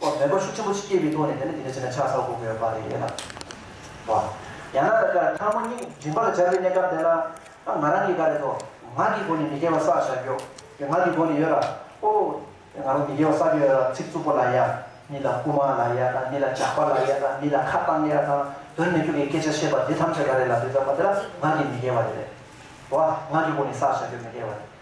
ཐོག་དོན་གོ་ཤུགས་ཆེན་པོ་ཞིག་སྐྱེས་པའི་ཐོག་ནས་བལྟས་ན་དེ་འདྲ་བྱས་ན་ཆགས་ས་འོག་གི་བོད་པ་རེད་ལབ་བ། ཡང་ན་ད་ཆ་ཕྲ་མོ་གཉིས་མགྲིན་པར་སྦྱར་བའི་གནས་སྐབས་དེ་ལ་ཨ་ང་རང་གིས་ག་རེ་ཐོག་ང་གི་སྒོ་ནས་མི་དགེ་བ་བསགས་བཞག་གྱོ་གྱོ་ང་གི་སྒོ་ནས་ཡོད་ར་ཨོ་ཨོ་ང་རང་མི་དགེ་བ་བསགས་ཀྱི་ཡོད་ར་ཚིག་རྩུབ་པོ་ལ་ཡ་མི་ལ་རྐུ་མ་ལ་ཡ་དང་མི་ལ་ཇག་པ་ལ་ཡ་དང་མི་ལ་ཁ་བཏང་ཡ་དང་དོན་མི་འགྲུབ་པའི་སྐད་ཆ་བཤད་པ་འདི་ཐམས་ཅད་ག་རེ་ལ་འདོད་ཙམ་པ་དེ་ལ་ང་གི་མི་དགེ་བ་རེད་རེད་བ་ང་གི་སྒོ་ནས་བསགས་བཞག་གྱོ་མི་དགེ་བ་རེད།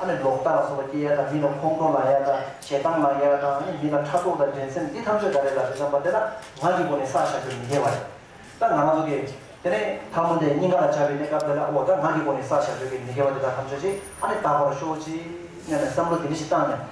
ཨ་ནི་ལོག་ལྟ་ལ་སོགས་པ་སྐྱེ་ཡ་དང་མི་ལ་ཁོང་ཁྲོ་ལངས་ཡ་དང་ཞེ་སྡང་ལངས་ཡ་དང་ཨ་ནི་མི་ལ་ཕྲག་དོག་དང་འགྲན་སེམས་འདི་ཐམས་ཅད་ག་རེ་ལ་རེད་བསམ་པ་དེ་ན་ངག་གི་སྒོ་ནས་བསགས་བཞག་རྒྱུར་མི་འགལ་བ་རེད། ད་ང་ང་ཚོ་གི། དེ་ནས་ཐ་མོ་དེ་སྙིང་ག་ལ་བཅའ་བའི་གནས་སྐབས་དེ་ལ་འོ་ད་ངག་གི་སྒོ་ནས་བསགས་བཞག་རྒྱུར་གས་མི་འགལ་བ་དེ་དག་ཐམས་ཅད་ཅིག་ཨ་ནི་དག་པར་ཤོག་ཅིག་སྙམ་ནས་བསམ་བློ་དེ་འདྲ་ཞིག་བཏང་ནས།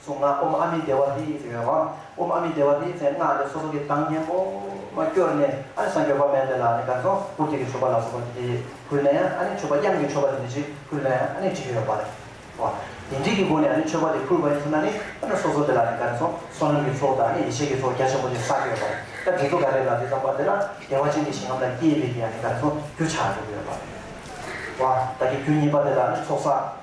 གཟུངས་སྔགས་ཨུམ་ཨ་མི་དེ་བ་ཧི་ཟེར་བའི་དབང་ཨུམ་ཨ་མི་དེ་བ་ཧི་ཟེར་སྔགས་དེ་སོ་སོ་གི་གདངས་སྙན་པོ་མ་བསྐྱོར་ནས་ཨ་ནི་སངས་རྒྱོ་བ་མན་དེ་ལ་ནི་གར་སོང་བུར་ཐིག་གི་མཆོད་པ་ལ་སོགས་པ་དེ་ཕུལ་ནས་ཨ་ནི་མཆོད་པ་དབྱངས་ཀྱི་མཆོད་པ་དེ་ནི་ཅིག་ཕུལ་ནས་ཨ་ནི་དྲི་ཡོད་པ་རེ་བ། དེ་འདྲིས་ཀྱི་སྒོ་ནས་ཨ་ནི་མཆོད་པ་དེ་ཕུལ་བ་ནི་ཐུབ་ན་ནི་ཨ་ནི་སོ་སོ་དེ་ལ་ནི་གར་སོང་བསོད་ནམས་ཀྱི་ཚོགས་དང་ཨ་ནི་ཡེ་ཤེས་ཀྱི་ཚོགས་རྒྱ་ཆེན་པོ་དེ་བསགས་ཡོད་པ་རེ་ད་དེ་ཚོ་ག་རེ་ལ་དེ་ཙམ་པ་དེ་ལ་བདེ་བ་ཅན་གྱི་ཞིང་ཁམས་ལ་སྐྱེས་པའི་གི་ཨ་ནི་གར་སོང་རྒྱུ་ཆགས་ཡོད་པ་རེ་བ། བདག་གི་རྒྱུ་གཉིས་པ་དེ་ལ་ནི་ཚོགས་བསགས།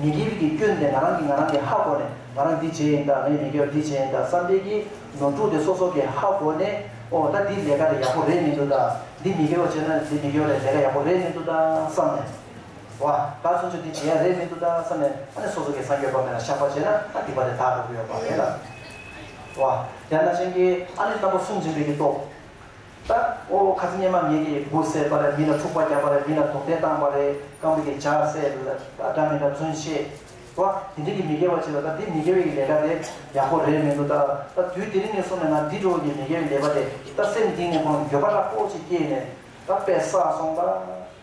ཉེ་དགེ་བའི་གིས་སྐྱོན་ཏེ་ང་རང་གིས་ང་རང་གི་ཧ་གོ་ནས་ང་རང་འདི་བྱེད་ཡིན་དཱ་ངས་མི་དགེ་བ་འདི་བྱེད་ཡིན་དཱ་བསམ་འཕེལ་གིས་ནོར་འཁྲུལ་ཏེ་སོ་སོ་གིས་ཧ་གོ་ནས་ཨོ་ད་འདི་ལས་ཀ་རེ་ཡག་པོ་རེད་མི་འདུག་དཱ་འདི་མི་དགེ་བ་བྱས་ན་འདི་མི་དགེ་བ་རེད་ལས་ཀ་ཡག་པོ་རེད་མི་འདུག་དཱ་བསམ་ནས་བ་དཱ་ཚུན་ཆོད་འདི་བྱེད་ཡག་རེད་མི་འདུག་དཱ་བསམ་ནས་ཨ་ནི་སོ་སོ་གིས་སངས་རྒྱས་པ་མེད་ལ་ཤག་པ་བྱས་ན་ཨ་འདི་པ་རེད་དཱ་འགྲོ་གི་ཡོད་པ་རེད་ལ་བ་ཡང་ན་སྤྱན་གྱིས་ཨ་ནི་རྟ་ཕོ་སུམ་འཛིན་པའི་གིས་རྟོགས། ལྟ། ཨོ་ཁ་ཚ་སྙེ་མ་ངན་གྱི་བུ་བསད་པ་རེད་མི་ལ་འཁྲུག་པ་རྒྱབ་པ་རེད་མི་ལ་དོགས་གཏན་བཏང་བ་རེད་རྐང་པའི་གི་ཇག་སེལ་ལ་འདྲ་མི་འདྲ་བརྩོན་ཤེས་བ་དེ་འདྲི་གི་མི་དགེ་བ་བྱེད་ལ་ལྟ་འདི་མི་དགེ་བའི་གི་ལས་ཀ་དེ་ཡག་པོ་རེད་མི་འདུག་ལྟ་ལྟ་དུས་དེ་རིང་ནས་སོང་ནས་ང་འདི་འགྲོ་བ་གི་མི་དགེ་བའི་ལས་པ་དེ་ལྟ་སེམས་གཏིང་ནས་ཁོང་ལ་འགྱོད་པ་ར་སྤོ་ཅིག་སྐྱེས་ནས་ལྟ་དཔེ་བསགས་སོང་ལྟ།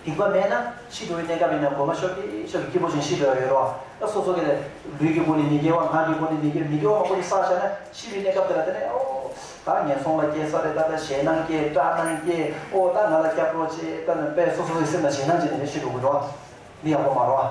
སྡིག་པ་མེད་ན་ཤི་འགྲོ་བའི་གནས་སྐབས་ཡིན་ན་གོ་མ་ཤོར་ཏེ་ཤོར་ཏེ་སྐྱིད་པོ་བྱུང་ཤི་འགྲོ་ཡ་ཡོད་རོགས་ཨ་སོ་སོ་ག་ལས། ལུས་ཀྱི་སྒོ་ནས་མི་དགེ་བ་ངག་གི་སྒོ་ནས་མི་དགེ་བ་མི་དགེ་བ་མང་པོ་ནི་བསགས་བྱས་ན་ཤི་བའི་གནས་སྐབས་དེ་ལ་བརྟེན་ནས་ཨོ། ད་ངན་སོང་ལ་སྐྱེས་ས་རེད་ད་ད་ཞེད་སྣང་སྐྱེས་སྐྲག་སྣང་སྐྱེས་ཨོ་ད་ང་ལ་སྐྱབས་གྲོགས་བྱེད་ད་ནི་པས་སོ་སོ་སོའི་སེམས་ལ་ཞེད་སྣང་སྐྱེས་ནས་ཤི་འགྲོ་དགོས་འགྲོ། འདི་ཡག་པོ་མ་རོགས་ཨ།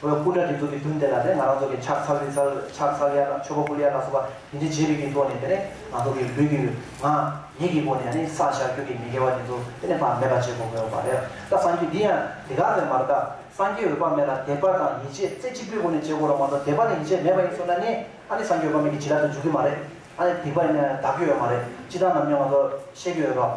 བོད་སྐུ་དྲག་གི་གཙོ་གི་བདུན་དེ་ལ་ནི་ང་རང་ཚོ་གི་ཕྱག་འཚལ་ལུས་འཚལ་ཕྱག་འཚལ་ཡ་དང་ཆོས་པ་ཀུ་ལི་ཡ་ལ་སོགས་པ་དེ་འདྲི་བྱེད་པའི་རྒྱུ་ཐོག་ནས་དེ་ནི་ང་ཚོ་གི་ལུས་ཀྱི་ངག་ཡིད་ཀྱི་སྒོ་ནས་ནི་བསགས་བཞག་རྒྱུད་ཀྱི་མི་དགེ་བ་དེ་ཚོ་དེ་ནི་བག་མེད་པ་བྱེད་དགོས་པ་རེད་ད་སངས་རྒྱུས་འདི་ཡང་དེ་ག་ལས་མ་རེད་ད་སངས་རྒྱས་འོད་དཔག་མེད་ལ་དད་པ་དང་ཡིད་ཆེས་རྩེ་གཅིག་པོའི་སྒོ་ནས་བྱེད་དགོས་རོགས་མ་གཏོགས་དད་པ་དང་ཡིད་ཆེས་མེད་པ་ཡིན་ཚོད་ན་ནི་ཨ་ནི་སངས་རྒྱས་འོད་དཔག་མེད་ཀྱི་བྱིན་རླབས་དེ་འཇུག་གི་མ་རེད་ཨ་ནི་སྡིག་པ་ཡིན་ན་དག་གི་ཡོད་མ་རེད་སྤྱི་བཏང་ནམ་ཡང་ང་ཚོ་ཤེས་ཀྱི་ཡོད་རོགས།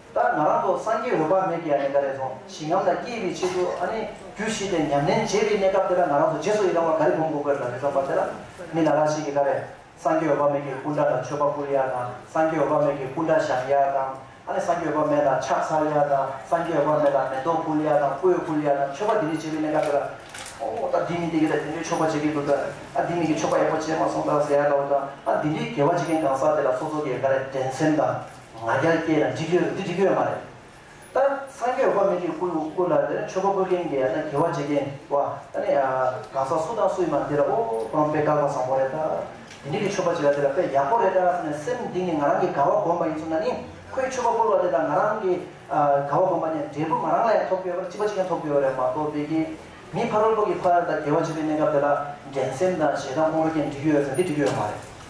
ད་ང་རང་ཚོ་སངས་རྒྱས་འོད་དཔག་མེད་ཀྱི་ཨ་ནེ་ཀ་རེ་ཚོང་ཞིང་ངམ་ལ་སྐྱེས་པའི་ཆེད་དུ་ཨ་ནེ་རྒྱུ་བཞི་སྟེ་ཉམས་ལེན་བྱེད་པའི་གནས་སྐབས་དེ་ལ་ང་རང་ཚོ་རྗེས་སུ་ཡི་རང་བ་ག་རེ་བསྒོམ་དགོས་དགོས་ལ་མི་རྩོམ་པ་དེ་ལ་མི་ལ་ལ་ཞིག་གིས་ཀ་རེ་སངས་རྒྱས་འོད་དཔག་མེད་ཀྱི་སྐུ་འདྲ་ལ་མཆོད་པ་བཀུར་ཡག་དང་སངས་རྒྱས་འོད་དཔག་མེད་ཀྱི་སྐུ་འདྲ་བཞེངས་ཡག་དང་ཨ་ནེ་སངས་རྒྱས་འོད་དཔག་མེད་ལ་ཕྱག་འཚལ་ཡག་དང་སངས་རྒྱས་འོད་དཔག་མེད་ལ་མེ་ཏོག་བཀུར་ཡག་དང་སྤོས་བཀུར་ཡག་དང་མཆོད་པ་འདི་འདྲས་བྱེད་པའི་གནས་སྐབས་དེ་ལ་ཨོ་ད་འདི་མི་འདི་ག་ད་དེ་འདྲའི་མཆོད་པ་བྱེད་ཀྱི་འདུག་ད་ཨ་འདི་མི་གི་མཆོད་པ་ཡག་པོ་བྱས་མ་སོང་ད་ཟེར་ཡག་དགའ་བོ་དང་ཨ་འདི་འདྲའི་དགེ་བ་བྱེད་མཁན་གང་ཟག་དེ་ལ་སོ་སོ་གིས་ཀ་རེ་འགྲན་སེམས་དང། ང་རྒྱལ་སྐྱེས་ན་འགྲིག་གི་རེད་འདི་འགྲིག་གི་ཡོད་མ་རེད་ད། སངས་རྒྱས་དཔའ་མི་ཁྱེད་སྐུ་ལ་དེ་ནས་ཆོས་པ་བཀོད་མཁན་གྱི་ཡ་ན་དགེ་བ་བྱེད་མཁན་བ་ད་ནི་གང་ཟག་སུ་དང་སུ་ཡིན་མ་འདི་ལ་ཨོ་ཁོ་རང་དཔེ་དགག་པ་བཟང་པོ་རེད་ད། དེ་འདྲིག་གི་ཆོས་པ་བྱེད་ལ་དེ་ལ་དཔེ་ཡག་པོ་རེད་ད་ཟེར་ནས་སེམས་འདི་ནི་ང་རང་གི་དགའ་བ་སྒོམ་པ་ཡིན་ཚོར་ན་ནི་ཁོས་ཆོས་པ་བཀུར་བ་དེ་དང་ང་རང་གི་དགའ་བ་སྒོམ་པ་ནི་འབྲས་བུ་ང་རང་ལ་ཡང་ཐོབ་ཀྱི་ཡོད་པ་རེད་སྤྱི་པ་གཅིག་ཀྱང་ཐོབ་ཀྱི་ཡོད་རེད་མ་གཏོགས་དཔེ་ཀྱི་མི་ཕ་རོལ་པོ་གི་ཕ་ད་དགེ་བ་བྱེད་པའི་གནས་སྐབས་དེ་ལ་འགྲན་སེམས་དང་ཞེ་སྡང་དབང་པོ་སྐྱེས་ན་འགྲིག་གི་ཡོད་ཟེར་འདི་འགྲིག་གི་ཡོད་མ་རེད།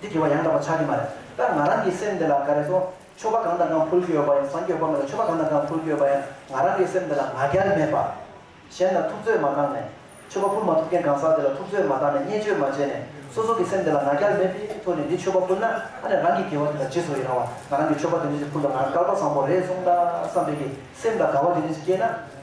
འདི་དགེ་བ་ཡང་དག་པ་ཆགས་ཀྱི་མ་རེད། ད་ང་རང་གི་སེམས་འདི་ལ་ག་རེ་སོང་ཆོ་ག་གང་དང་གང་ཕུལ་གྱི་ཡོད་པ་ཡང་བཟང་སྐྱོ་བ་མེད་ལ་ཆོ་ག་གང་དང་གང་ཕུལ་གྱི་ཡོད་པ་ཡང་ང་རང་གི་སེམས་འདི་ལ་ང་རྒྱལ་མེད་པ། གཞན་ལ་ཐུབ་ཚོད་མ་བཏང་ནས། ཆོ་ག་ཕུལ་མ་ཐུབ་མཁན་གང་ཟག་དེ་ལ་ཐུབ་ཚོད་མ་བཏང་ནས་བརྙས་བཅོས་མ་བྱས་ནས་སོ་སོ་གི་སེམས་འདི་ལ་ང་རྒྱལ་མེད་པའི་ཐོག་ནས་འདི་ཆོ་ག་ཕུལ་ན་ཨ་ནེ་རང་གི་དགེ་བ་དེ་ལ་རྗེས་སུ་ཡི་རང་བ་ང་རང་གི་ཆོ་ག་དེ་འདྲ་ཞིག་ཕུལ་ལ་ང་རང་སྐལ་པ་བཟང་པོ་རེད་སོང་ད་བསམ་པའི་གི་སེམས་དང་དགའ་བ་དེ་འདྲ་ཞིག་སྐྱེས་ན།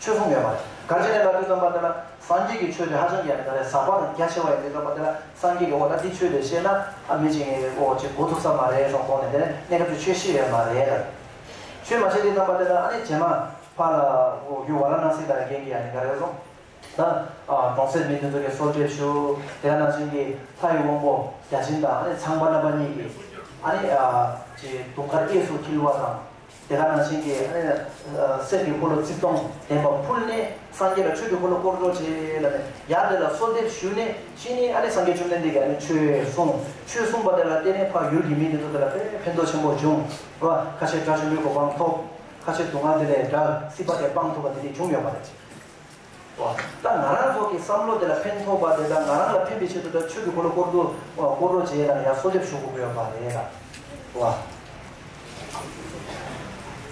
ཆོས་གསུང་ཡོད་པ། ག་ཅི་ནས་བླ་སྤྲུལ་སྟོན་པ་འདི་ལ་སངས་རྒྱས་ཀྱི་ཆོས་དེ་ཧ་ཅང་རྒྱ་མི་དག་རེད་ཟག་པ་དང་རྒྱ་ཆེ་བ་ཡིན་འདུག་སྟོན་པ་འདི་ལ་སངས་རྒྱས་ཀྱི་འོག་ན་འདི་ཆོས་དེ་ཤེས་ན་ཨ་མི་ཆེ་ངའི་འོག་ཅིག་གོ་ཐུབ་ས་མ་རེད་སོང་དགོངས་ནས་དེ་ནས་གནས་སྐབས་ཀྱི་ཆོས་ཤེས་ཡོད་མ་རེད་དམ། ཆོས་མ་ཤེས་དེ་སྟོན་པ་འདི་ལ་ཨ་ནི་བྱེ་མ་ཕ་ལ་འོ་གུ་བ་ར་སྣང་སྲིད་དང་རྒན་གྱི་ཡ་ནི་ག་རེད་སོང། ད་གྲོང་གསེབ་མི་འདི་ཚོ་གི་སོར་འབྲེལ་ཞུ་དེ་ག་ནང་བཞིན་གྱི་ལྷ་ཡི་དབང་པོ་བརྒྱ་བྱིན་དང་ཨ་ནི་ཚངས་པ་རྣམ་པ་གཉིས་ཀྱི་ཨ་ནི་ཅི་དུང་དཀར་སྐྱེས་སུ་འཁྱིལ་བ་དང། དེ་ལ་ན་ཤིང་གི་གསེར་གྱི་འཁོར་ལོ་རྩིབས་སྟོང་ལྡན་པ་ཕུལ་ནས་སངས་རྒྱས་ལ་མཆོད་པའི་འཁོར་ལོ་བསྐོར་རྫོགས་བྱས་ལ་ནི་ཡང་དེ་ལ་གསོལ་འདེབས་ཞུས་ནས་ཤིང་ནི་སངས་རྒྱས་བཅོམ་ལྡན་འདས་ཀྱིས་མཆོད་གསུངས། ཆོས་གསུངས་པ་དེ་ལ་བརྟེན་ནས་འཕགས་ཡུལ་གྱི་མིས་དེ་ཚོ་དེ་ལ་དཔལ་ཕན་འདོགས་ཆེན་པོ་བྱུང་བ་ཁ་ཆེ་དགྲ་བཅོམ་པའི་གོ་འཕང་ཐོབ། ཁ་ཆེ་དུག་ལྔ་དེ་ལས་དགྲ་སྲི་པ་དེ་སྤངས་ཐུབ་པ་དེ་ནི་བྱུང་ཡོད་པ་རེད། ད་ང་རང་ཚོ་གི་བསམ་བློ་དེ་ལ་ཕན་ཐོག་པ་དེ་དང་ང་རང་ལ་ཕན་པའི་ཆེད་དུ་ད་ཆོས་ཀྱི་འཁོར་ལོ་བསྐོར་འདུག་བསྐོར་རོགས་བྱས་དང་ཡང་གསོལ་འདེབས་ཞུ་དགོས་ཡོད་པ་རེད་ད།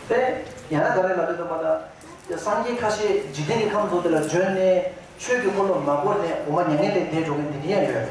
དཔེར་ཡང་ན་ག་རེ་ལ་ལོས་དང་པ་ད། སངས་རྒྱས་ཁ་ཤས་འཇིག་རྟེན་གྱི་ཁམས་ཚོ་དེ་ལ་བྱོན་ནས་ཆོས་ཀྱི་འཁོར་ལོ་མ་བསྐོར་ནས་འོ་མ་མྱ་ངན་ལས་འདས་འགྲོ་མཁན་དེ་འདྲ་ཡང་ཡོད་རེད།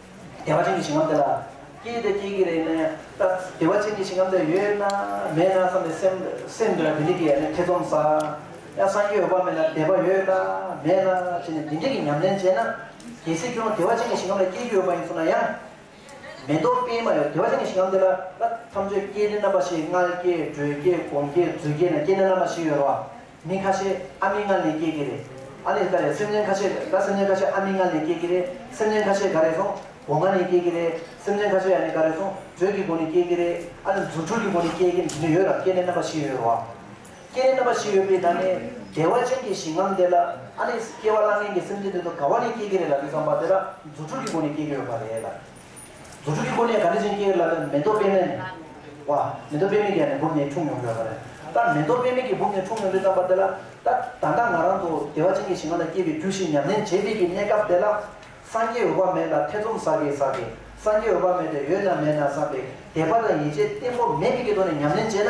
བདེ་བ་ཅན་གྱི་ཞིང་ཁམས་དེ་ལ་སྐྱེས་དེ་སྐྱེ་གི་རེད་ནའི་ད་བདེ་བ་ཅན་གྱི་ཞིང་ཁམས་དེ་ཡོད་ན་མེད་ན་བསམ་ནས་སེམས་སེམས་འདི་ལ་དེ་འདྲི་གི་ཡ་ནའི་ཐེ་ཚོམ་ཟ། ཡང་སངས་རྒྱས་འོད་དཔག་མེད་ལ་བདེ་བ་ཡོད་ན་མེད་ན་བྱས་ནས་དེ་འདྲི་གི་ཉམས་ལེན་བྱས་ན་གལ་སྲིད་ཁྱོད་རང་བདེ་བ་ཅན་གྱི་ཞིང་ཁམས་ལ་སྐྱེས་ཀྱི་ཡོད་པ་ཡིན་ཚོར་ན་ཡང་མེད་མདོག་དཔེ་མ་ཡོད་བདེ་བ་ཅན་གྱི་ཞིང་ཁམས་དེ་ལ་ད་མཚམས་གཅོད་སྐྱེས་དེ་རྣམ་པ་བཞི་མངལ་སྐྱེས་འགྲོས་སྐྱེས་སྒོང་སྐྱེས་རྫུས་སྐྱེས་ནས་སྐྱེས་ནས་རྣམ་པ་བཞི་ཡོད་རོ། མི་ཁ་ཤས་ཨ་མི་ལྔ་ལས་སྐྱེས་ཀྱི་རེད། ཨ་ལས་ཀ་རེད་སེམས་ཅན་ཁ་ཤས་ཀ་སེམས་ཅན་ཁ་ཤས་ཨ་མི་ལྔ་ལས་སྐྱེས་ཀྱི་རེད་སེམས་ཅན་ཁ་ཤས་ག་རེད་སོང་བོ་ལྔ་ནས་སྐྱེས་ཀྱི་རེད་སེམས་ཅན་ཁ་ཤས་ཡ་ནས་ག་རེད་སོང་བརྗོད་ཀྱི་སྒོ་ནས་སྐྱེས་ཀྱི་རེད་ཨ་ལས་རྫུ་འཕྲུལ་གྱི་སྒོ་ནས་སྐྱེས་ཀྱི་འདི་ནི་ཡོད་རང་སྐྱེ་གནས་རྣམ་པ་བཞི་ཡོད་རོ། སྐྱེ་གནས་རྣམ་པ་བཞི་ཡོད་པའི་ནང་ནས་བདེ་བ་ཅན་གྱི་ཞིང་ངམ་དེ་ལ་ཨ་ལས་སྐྱེ་བ་བླ་ངན་གྱི་སེམས་ཅན་དེ་ཚོ་ག་བ་ནས་སྐྱེས་ཀྱི་རེད་ལ་དེ་ཚོ་བ་དེ་ལ་རྫུ་འཕྲུལ་གྱི་སྒོ་ནས་སྐྱེས་ཀྱི་ཡོད་པ་རེད་ལ། རྫུ་འཕྲུལ་གྱི་སྒོ་ནས་ག་འདྲ་ཅན་སྐྱེ་ལ་ལ་མེ་ཏོག་པད་མའི། བ། མེ་ཏོག་པད་མའི་རྒྱ་ནས་སྦུབས་ནས་འཁྲུངས་མྱོང་བའི། ལ་ལ་མེ་ཏོག་པད་མའི་རྒྱ་སྦུབས་ནས་འཁྲུངས་མྱོང་བའི་བརྩམས་པ་དེ་ལ་ལྟ། ད་ལྟ་ང་རང་ཚོ་བདེ་བ་ཅན་གྱི་ཞིང་ཁ་ན་སྐྱེས་པའི་རྒྱུ་ཞིག་ཉམས་ལེན་བྱེད་བདེ་གི་གནས་སྐབས་དེ་ལ། སངས་རྒྱས་འོད་དཔག་མེད་ལ་ཐེ་ཚོམ་ཟ་གི་ཟ་གི། སངས་རྒྱས་འོད་དཔག་མེད་དེ་ཡོད་ན་མེད་ན་བསམ་པའི་དད་པ་དང་ཡིད་ཆེས་བརྟན་པོ་མེད་མི་དགེ་དོན་ནི་ཉམས་ལེན་བྱས་ན།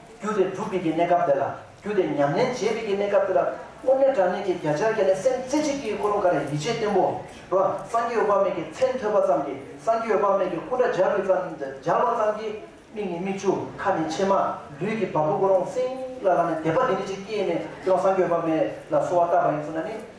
རྒྱུ་དེ་སྒྲུབ་པའི་ཀྱི་གནས་སྐབས་དེ་ལ། རྒྱུ་དེ་ཉམས་ལེན་བྱེད་པའི་ཀྱི་གནས་སྐབས་དེ་ལ། དངོས་གནས་དྲང་གནས་ཀྱི་བརྒྱ་ཆར་གྱི་ནི་སེམས་རྩེ་གཅིག་གིས་ཀུན་སློང་ག་རེ་ཡིད་ཆེས་བརྟན་པོ། རོ། སངས་རྒྱས་འོད་དཔག་མེད་ཀྱི་མཚན་ཐོས་པ་ཙམ་གྱིས་སངས་རྒྱས་འོད་དཔག་མེད་ཀྱི་སྐུ་འདྲ་སྦྱར་བའི་ཙམ་སྦྱར་བ་ཙམ་གྱིས། མིག་ནི་མིག་ཆུ་ཁ་ནི་མཆི་མ། ལུས་ཀྱི་བ་སྤུ་ཀུན་སློང་སིང་ལ་ལ་ནི་དད་པ་འདི་འདྲ་ཅིག་སྐྱེས་ནས་ཀྱང་སངས་རྒྱས་འོད་དཔག་མེད་ལ་གསོལ་བ་བཏབ་པ་ཡིན་ཚུལ་ན་ནི།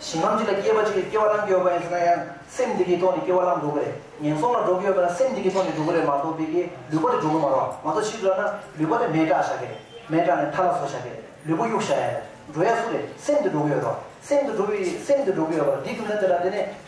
ཞིང་ཁམས་གཅིག་ལ་སྐྱེས་པ་གཅིག་གིས་སྐྱེ་བ་བླངས་ཀྱི་ཡོད་པ་ཡིན་ཟེར་ན་ཡང་སེམས་དེ་གིས་ཐོག་ནས་སྐྱེ་བ་བླངས་འགྲོ་གི་རེད། ངན་སོང་ལ་འགྲོ་གི་ཡོད་པ་ཡང་སེམས་དེ་གིས་ཐོག་ནས་འགྲོ་གི་རེད་མ་གཏོགས་དེ་གིས་ལུས་པོ་དེ་འགྲོ་གི་མ་རོགས་མ་གཏོགས་ཕྱིས་སུ་ལབ་ན་ལུས་པོ་དེ་མེད་དྲགས་བཞག་གི་རེད་མེད་དྲགས་ནས་ཐ་ལ་བཟོ་བཞག་གི་རེད་ལུས་པོ་གཡུགས་བཞག་ཡ་རེད་འགྲོ་ཡ་སུ་རེད་སེམས་དེ་འགྲོ་གི་ཡོད་རོགས་སེམས་དེ་འགྲོ་གི་ཡོད་སེམས་དེ་འགྲོ་གི་ཡོད་པ་རེད་འདི་དུས་ཚོད་འདི་ལ་བསྡད་ནས་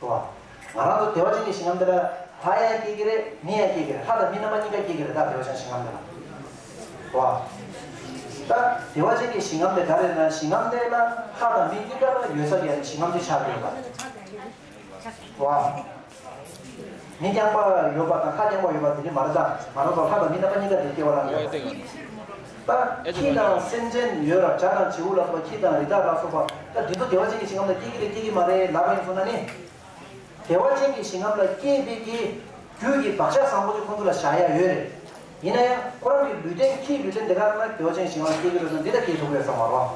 བ། ང་རང་ཚོ་དེ་བ་ཅན་གྱི་ཞིང་ཁམས་འདི་ལ། ལྷ་ཡང་སྐྱེ་གི་རེད་མི་ཡང་སྐྱེ་གི་རེད་ལྷ་དང་མི་རྣམ་པ་གཉིས་ཀ་སྐྱེ་གི་རེད་ད་དེ་བ་ཅན་ཞིང་ཁམས་འདི་ལ། བ། ད་དེ་བ་ཅན་གྱི་ཞིང་ཁམས་དེ་ག་རེད་ན་ཞིང་ཁམས་འདི་ལ་ལྷ་དང་མི་གཉིས་ཀ་ཡོད་ས་ཡོད་ན་ཞིང་ཁམས་འདི་ཆགས་ཀྱི་ཡོད་པ། བ། མི་རྐྱང་པ་ཡོད་པ་དང་ལྷ་རྐྱང་པ་ཡོད་པ་དེ་འདྲས་མ་རེད་ད། མ་རེད་དོ་ལྷ་དང་མི་རྣམ་པ་གཉིས་ཀ་དེ་སྐྱེ་བ་ལ་འདྲ་བ་དེ། ད་ཁྱི་དང་སེམས་ཅན་ཡོད་ར་བྱ་དང་བྱེའུ་ལ་སོགས་པ་ཁྱི་དང་རི་དྭགས་ལ་སོགས་པ་ད་དུས་ཚོད་བདེ་བ་ཅན་གྱི་ཞིང་ཁམས་ལ་སྐྱེ་གི་རེད་སྐྱེ་གི་མ་རེད་ལབ་པ་ཡིན་ཚོར་ན་ནི། བདེ་བ་ཅན་གྱི་ཞིང་ཁམས་ལ་སྐྱེས་དཔེ་ཀྱི་རྒྱུད་ཀྱི་བག་ཆགས་བཟང་པོ་དེ་ཁོང་ཚོ་ལ་བཞག་ཡ་ཡོད་རེད། ཡིན་ན་ཡང་ཁོ་རང་གི་ལུས་རྟེན་ཁྱིའི་ལུས་རྟེན་དེ་ག་རང་ན་གྱོ་ཅན་ཞིང་བར་སྐྱེས་ཀྱི་རོལ་དུ་འདི་ལྟར་སྐྱེས་ཐུབ་རེད་བསམ་བར་བ།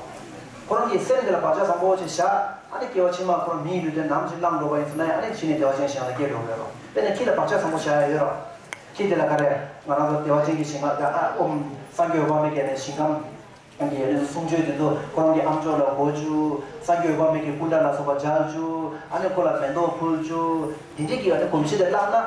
ཁོ་རང་གིས་སེམས་དེ་ལ་བག་ཆགས་བཟང་པོ་ཆེ་བཞག་ཨ་ནི་སྐྱེ་བ་ཕྱི་མར་ཁོ་རང་མིའི་ལུས་རྟེན་ནམ་ཅིག་བླངས་འགྲོ་བ་ཡིན་ཟེར་ན་ཡང་ཨ་ནི་ཕྱིས་ནས་བདེ་བ་ཅན་ཞིང་ལ་སྐྱེས་འགྲོ་གི་རེད་རོ། དཔེར་ན་ཁྱི་ལ་བག་ཆགས་བཟང་པོ་བཞག་ཡ་ཡོད་རོགས། ཁྱི་དེ་ལ་ག་རེ་ང་རང་ཚོ་བདེ་བ་ཅན་གྱི་ཞིང་ཁ་བརྒྱག་ཨ་འོ་སངས་རྒྱས་འོད་དཔག་མེད་ཀྱི་ཞིང་ཁམས་ཀྱི་གནས་ཚུལ་གསུང་ཆོས་དེ་ཚོ་ཁོ་རང་གི་ཨམ་ཅོག་ལ་བསྒོ་བཅུག་སངས་རྒྱས་འོད་དཔག་མེད་ཀྱི་སྐུ་འདྲ་ལ་སོགས་པ་བརྒྱག་བཅུག་ཨ་ནི་ཁོ་ལ་མེ་ཏོག་ཕུལ་བཅུག་དེ་འདྲས་ཀྱི་ཨ་ནི་གོམས་གཤིས་དེ་བརླགས་ན།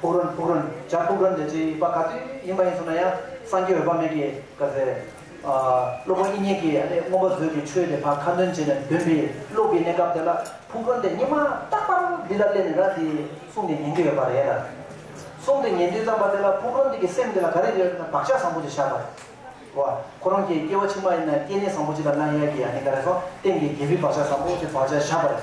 ཕུག་རོན་ཕུག་རོན་བྱ་ཕུག་རོན་འདི་ཅི་པ་ག་དུས་ཡིན་པ་ཡིན་སོང་ན་ཡང་སངས་རྒྱས་འོད་དཔག་མེད་ཀྱིས་བཀའ་སྩལ། སློབ་དཔོན་དབྱིག་གཉེན་གྱིས་ཨ་ནི་སྔོན་པོ་བཟོས་ཀྱི་ཆོས་དེ་ཕ་ཁ་འདོན་བྱས་ནས་འདོན་པའི་ལུགས་ཀྱི་གནས་སྐབས་དེ་ལ་ཕུག་རོན་དེ་སྙེ་མ་རྟག་པར་འདི་ལ་སླེབས་ནས་ར་འདི་གསུངས་ཏེ་ཉན་གྱི་ཡོད་པ་རེད་ལ། གསུངས་ཏེ་ཉན་དུས་བརྩམས་པ་དེ་ལ་ཕུག་རོན་འདི་གི་སེམས་འདི་ལ་ག་རེ་ཡོད་ན་བག་ཆགས་བཟང་པོ་ཅིག་བཞག་པ་རེད། བ། ཁོ་རང་གི་སྐྱེ་བ་ཕྱི་མ་ཡིན་ན་སྐྱེ་གནས་བཟང་པོ་ཅིག་ལ་གནང་ཡས་ཀྱི་ཨ་ནི་ག་རེ་སོང་སྟེང་གི་རྒྱལ་པོའི་བག་ཆགས་བཟང་པོ་ཅིག་བག་ཆགས་བཞག་པ་རེད།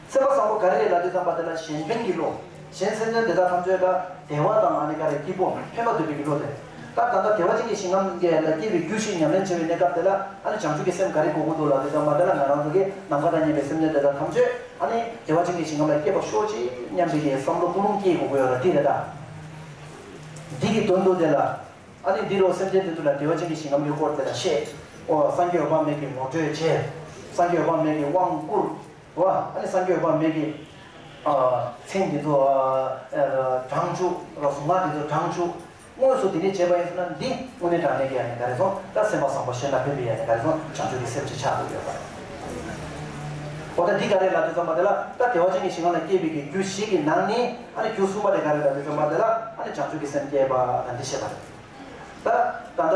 སེམས་པ་བཟང་པོ་ག་རེ་རེད་ལ་དེ་ཙམ་པ་དེ་ལ་གཞན་དོན་གྱི་བློ། གཞན་སེམས་དོན་དེ་དག་ཐམས་ཅད་ལ་བདེ་བ་དང་མ་ནི་དགའ་བའི་སྐྱིད་པོ་ཕན་པ་འདོད་པའི་བློ་དེ། སྐབས་ད་ལྟ་དེ་བ་ཅན་གྱི་ཞིང་ངམ་ཀྱི་ལ་སྐྱེས་པའི་རྒྱུ་ཞིག་ཉམས་ལེན་བྱེད་པའི་གནས་སྐབས་དེ་ལ་ཨ་ནི་བྱང་ཆུབ་ཀྱི་སེམས་ག་རེ་གོ་གོ་འདུག་ལ་དེ་ཙམ་པ་དེ་ལ་ང་རང་ཚོ་གིས་ནམ་མཁའ་དང་མཉམ་པའི་སེམས་དོན་དེ་དག་ཐམས་ཅད་ཨ་ནི་དེ་བ་ཅན་གྱི་ཞིང་ངམ་ལ་སྐྱེས་པར་ཤོག་ཅིག་སྙམ་པའི་དེའི་བསམ་བློ་སྐུལ་སློང་སྐྱེས་གོ་གོ་ཡོད་ལ་དེ་རེད་ད། འདི་གི་དོན་དུ་དེ་ལ་ཨ་ནི་འདི་རུ་སེམས་ཅན་དེ་ཚོ་ལ་དེ་བ་ཅན་གྱི་ཞིང་ངམ་གྱི་སྐོར་དེ་ལ་བཤད། ཨོ་སངས་རྒྱས་འོད་དཔག་མེད་ཀྱིས་ངོ་སྤྲོད་བྱས། སངས་རྒྱས་འོད་དཔག་མེད་ཀྱིས་དབང་བསྐུར། བ་ཨ་ནི་སངས་རྒྱས་དཔག་མེད་ཀྱི། མཚན་འདི་ཚོ། བགྲང་བྱུག་རོ་གཟུགས་སྔགས་འདི་ཚོ་བགྲང་བྱུག། དངོས་སུ་དེ་ནི་བྱེད་པ་ཡིན་ཟེར་ན་འདི་དངོས་གནས་དྲང་གནས་ཀྱི་ཡ་ནི་ག་རེ་སོང་ད་སེམས་པ་བཟང་པོ་གཞན་ལ་ཕན་པའི་ཡ་ནི་ག་རེ་སོང་བྱང་ཆུབ་ཀྱི་སེམས་ཅིག་ཆགས་འདུག་ཡོད་པ། འོ་ད་འདི་ག་རེ་ལ་དེ་ཚོ་མ་དེ་ལ་ད་བདེ་བ་ཅན་གྱི་ཞིང་ཁམས་ལ་སྐྱེས་པའི་གི་རྒྱུ་བཞི་གི་ནང་ནས་ཨ་ནི་རྒྱུ་གསུམ་པ་དེ་ག་རེ་ད་དེ་ཚོ་མ་དེ་ལ་ཨ་ནི་བྱང་ཆུབ་ཀྱི་སེམས་སྐྱེས་པ་ད་འདི་བཤད་པ་རེད། ད་ད་ལྟ།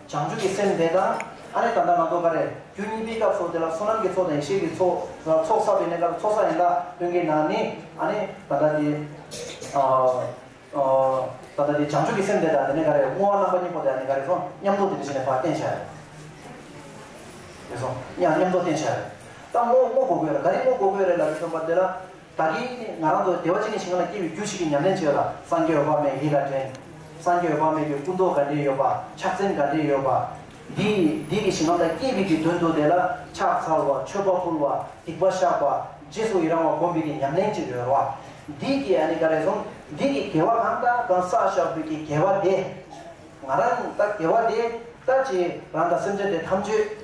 བྱང་ཆུབ་ཀྱི་སེམས་དེ་དང། ཨ་ནི་ད་ལྟ་ང་ཚོ་འགའ་རེ་རྒྱུ་གཉིས་པའི་སྐབས་སོགས་དེ་ལ་བསོད་ནམས་ཀྱི་ཚོགས་དང་ཡེ་ཤེས་ཀྱི་ཚོགས་ལ་ཚོགས་བསགས་པའི་གནས་སྐབས་ཚོགས་བསགས་ཡིན་ལ་སྟོན་གྱི་ན་ནི། ཨ་ནི་ད་ལྟ་དེ། ད་ལྟ་དེ་བྱང་ཆུབ་ཀྱི་སེམས་དེ་དང་དེ་ནས་འགའ་རེ་བསྔོ་བ་རྣམ་པ་གཉིས་པོ་དེ་ཨ་ནི་འགའ་རེ་སོང་ཉམས་རྟོགས་དེ་འདི་བྱས་ནས་བར་བསྟན་བྱ་ཡོད། དེ་སོང་ཉམས་རྟོགས་བསྟན་བྱ་ཡོད། ད་བསྔོ་བསྔོ་དགོས་དགོས་རེད་འགའ་རེ་བསྔོ་དགོས་དགོས་རེད་ལ་དེ་སྟོན་པ་དེ་ལ། བདག་གིས་ང་རང་ཚོ་བདེ་བ་ཅན་གྱི་ཞིང་ཁམས་ལ་སྐྱེ་བའི་རྒྱུ་ཞིག་གི་ཉམས་ལེན་བྱེད་ལ་སངས་རྒྱས་འོད་དཔག་མེད་ཡིད་ལ་དྲན། སངས་རྒྱས་འོད་དཔག་མེད་ཀྱི་སྐུ་མདོག་ག་འདྲས་ཡོད་པ་ཕྱག་མཚན་ག་འདྲས་ཡོད་པ། འདི་འདི་གི་ཞིང་ཁམས་ལ་སྐྱེས་པའི་གི་དོན་དུ་དེ་ལ་ཕྱག་འཚལ་བ་མཆོད་པ་ཕུལ་བ་སྡིག་པ་བཤགས་པ་རྗེས་སུ་ཡི་རང་བ་བསྒོམ་པའི་གི་ཉམས་ལེན་གྱི་རོལ་བ། འདི་གི་ཨ་ནི་ག་རེ་ཟུང་འདི་གི་དགེ་བ་གང་དག་གང་བསགས་བཤགས་པའི་གི་དགེ་བ་དེ། ང་རང་ད་དགེ་བ་དེ་ད་ཅི་རང་དང་སེམས་ཅན་དེ་ཐམས་ཅད།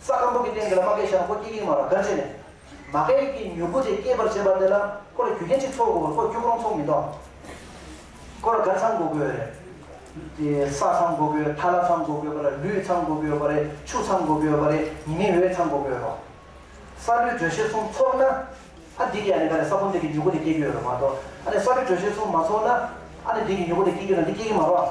ས་སྐམ་པོ་གི་སྟེང་དེར་མ་གས་ཤ་ཁོ་སྐྱེ་གིན་མ་ར་གར་བྱས་ནས། མ་གས་ཀྱི་མྱུ་གུ་དེ་སྐྱེད་པར་བྱེད་པ་དེ་ལ་ཁོ་ལ་རྒྱུ་རྐྱེན་གཅིག་ཚོགས་དགོས་པར་ཁོ་སྐྱུག་རོང་ཚོགས་མི་འདོག། ཁོ་ལ་གར་ཚང་དགོས་དགོས་རེད། དེ་ས་ཚང་དགོས་དགོས་ཐ་ལ་ཚང་དགོས་དགོས་པ་རེད་ལུད་ཚང་དགོས་དགོས་པ་རེད་ཆུ་ཚང་དགོས་དགོས་པ་རེད་ཉི་མའི་འོད་ཚང་དགོས་དགོས་རོགས། ས་རུལ་དྲོད་གཤེར་གསུམ་ཚོགས་ན། ཨ་འདི་གི་ཨ་ནི་ག་རེ་ས་བུམ་འདི་གི་མྱུ་གུ་དེ་སྐྱེ་རྒྱུ་ཡོད་རེད་མ་གཏོགས་ཨ་ནི་ས་རུལ་དྲོད་གཤེར་གསུམ་མ་ཚོགས་ན། ཨ་ནི་འདི་གི་མྱུ་གུ་དེ་སྐྱེ་རྒྱུ་ན་འདི་སྐྱེ་གིན་མ་རོགས།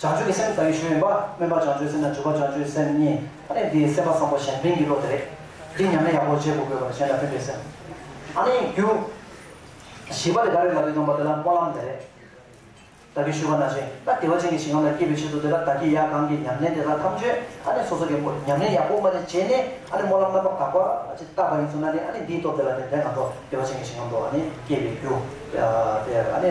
བྱང་ཆུབ་ཀྱི་སེམས་ཟ་ཡུལ་གཞན་ཡིན་པ། སྨོན་པ་བྱང་ཆུབ་སེམས་དང་སྤྱོད་པ་བྱང་ཆུབ་སེམས་གཉིས་ཨ་ནི་འདི་སེམས་དཔའ་བཟང་པོ་གཞན་ཕན་གྱི་བློ་དེ་རེད། འདི་ཉམས་ལེན་ཡག་པོ་བྱེད་དགོས་དགོས་པར་གཞན་དང་མཐུན་པའི་སེམས་ཨ་ནི་རྒྱུ། བཞི་པ་དེ་ག་རེ་ལག་གིས་འདོན་པ་དེ་ལ་སྨོན་ལམ་དེ་རེད། བདག་གིས་ཞུ་བ་ན་ཅན་ན་བདེ་བ་ཅན་གྱི་ཞིང་ཁམས་ལ་སྐྱེས་པའི་ཆེད་དུ་དེ་ལ་བདག་གིས་ཡང་གང་གིས་ཉམས་ལེན་དེ་དག་ཐམས་ཅད་ཨ་ནི་སོ་སོ་གའི་སྒོ་ཉམས་ལེན་ཡག་པོ་མ་ནི་བྱས་ནས་ཨ་ནི་སྨོན་ལམ་རྣམ་པ་དག་པ་ཅིག་བཏབ་པ་ཡིན་ཚུལ་ན་ནི་ཨ་ནི་འདིའི་སྟོབས་དེ་ལ་ནི་དེ་ང་ཚོ་བདེ་བ་ཅན་གྱི་ཞིང་ཁམས་དུ་ཨ་ནི་སྐྱེས་པའི་རྒྱུ། དེ་ཨ་ནི།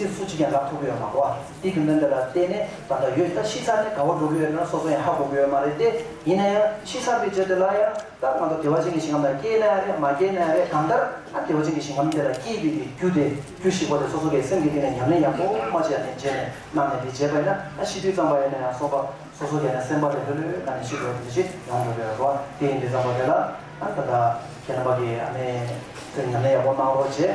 རྩིས་སུ་གཅིག་ཀྱང་རག་ཐུབ་ཀྱི་ཡོད་མ་གཏོགས་ཨ་ཏི་གི་མོན་དེ་ལ་བལྟས་ནས་ད་ལྟ་ཡོད་ད་ཕྱི་ཚར་ནས་དགའ་བོ་འགྲོ་གི་ཡོད་ན་སོ་སོ་ཡང་ཧ་གོ་གི་ཡོད་མ་རེད་དེ་ཡིན་ན་ཡང་ཕྱི་ཚར་པའི་རྗེས་དེ་ལ་ཡང་ད་ང་ཚོ་དེ་བ་ཅན་གྱི་ཞིང་ཁམས་ལ་སྐྱེས་ན་ཡང་རེད་མ་སྐྱེས་ན་ཡང་རེད་གང་ལྟར་ཨ་དེ་བ་ཅན་གྱི་ཞིང་ཁམས་དེ་ལ་སྐྱེས་དགོས་ཀྱི་རྒྱུ་དེ་རྒྱུ་ཞིག་པོ་དེ་སོ་སོ་གའི་སེམས་ཀྱི་སྟེང་ནས་ཉམས་ལེན་ཡག་པོ་མ་བྱས་ཡ་ནས་རྗེས་ནས་གནང་ནས་དེ་བྱས་པ་ཡིན་ན་ཨ་ཤི་དུས་གཙང་པ་ཡིན་ན་ཡང་སོ་པ་སོ་སོ་གའི་ནང་སེམས་པ་དེ་ལྷོད་ལྷོད་གནང་ནས་ཤི་འགྲོ་བ་དེ་འདི་ཕྱི་ཡོང་འགྲོ་གི་ཡོད་རེད་པ་དེ་ཡིན་དུས་གཙང་པ་དེ་ལ་ད་ད་ཁྱེད་རྣམ་པ་གིས་ཨ་ནེ་ཚོས་ཉམས་ལེན་ཡག་པོ་གནང་རོགས་བྱས།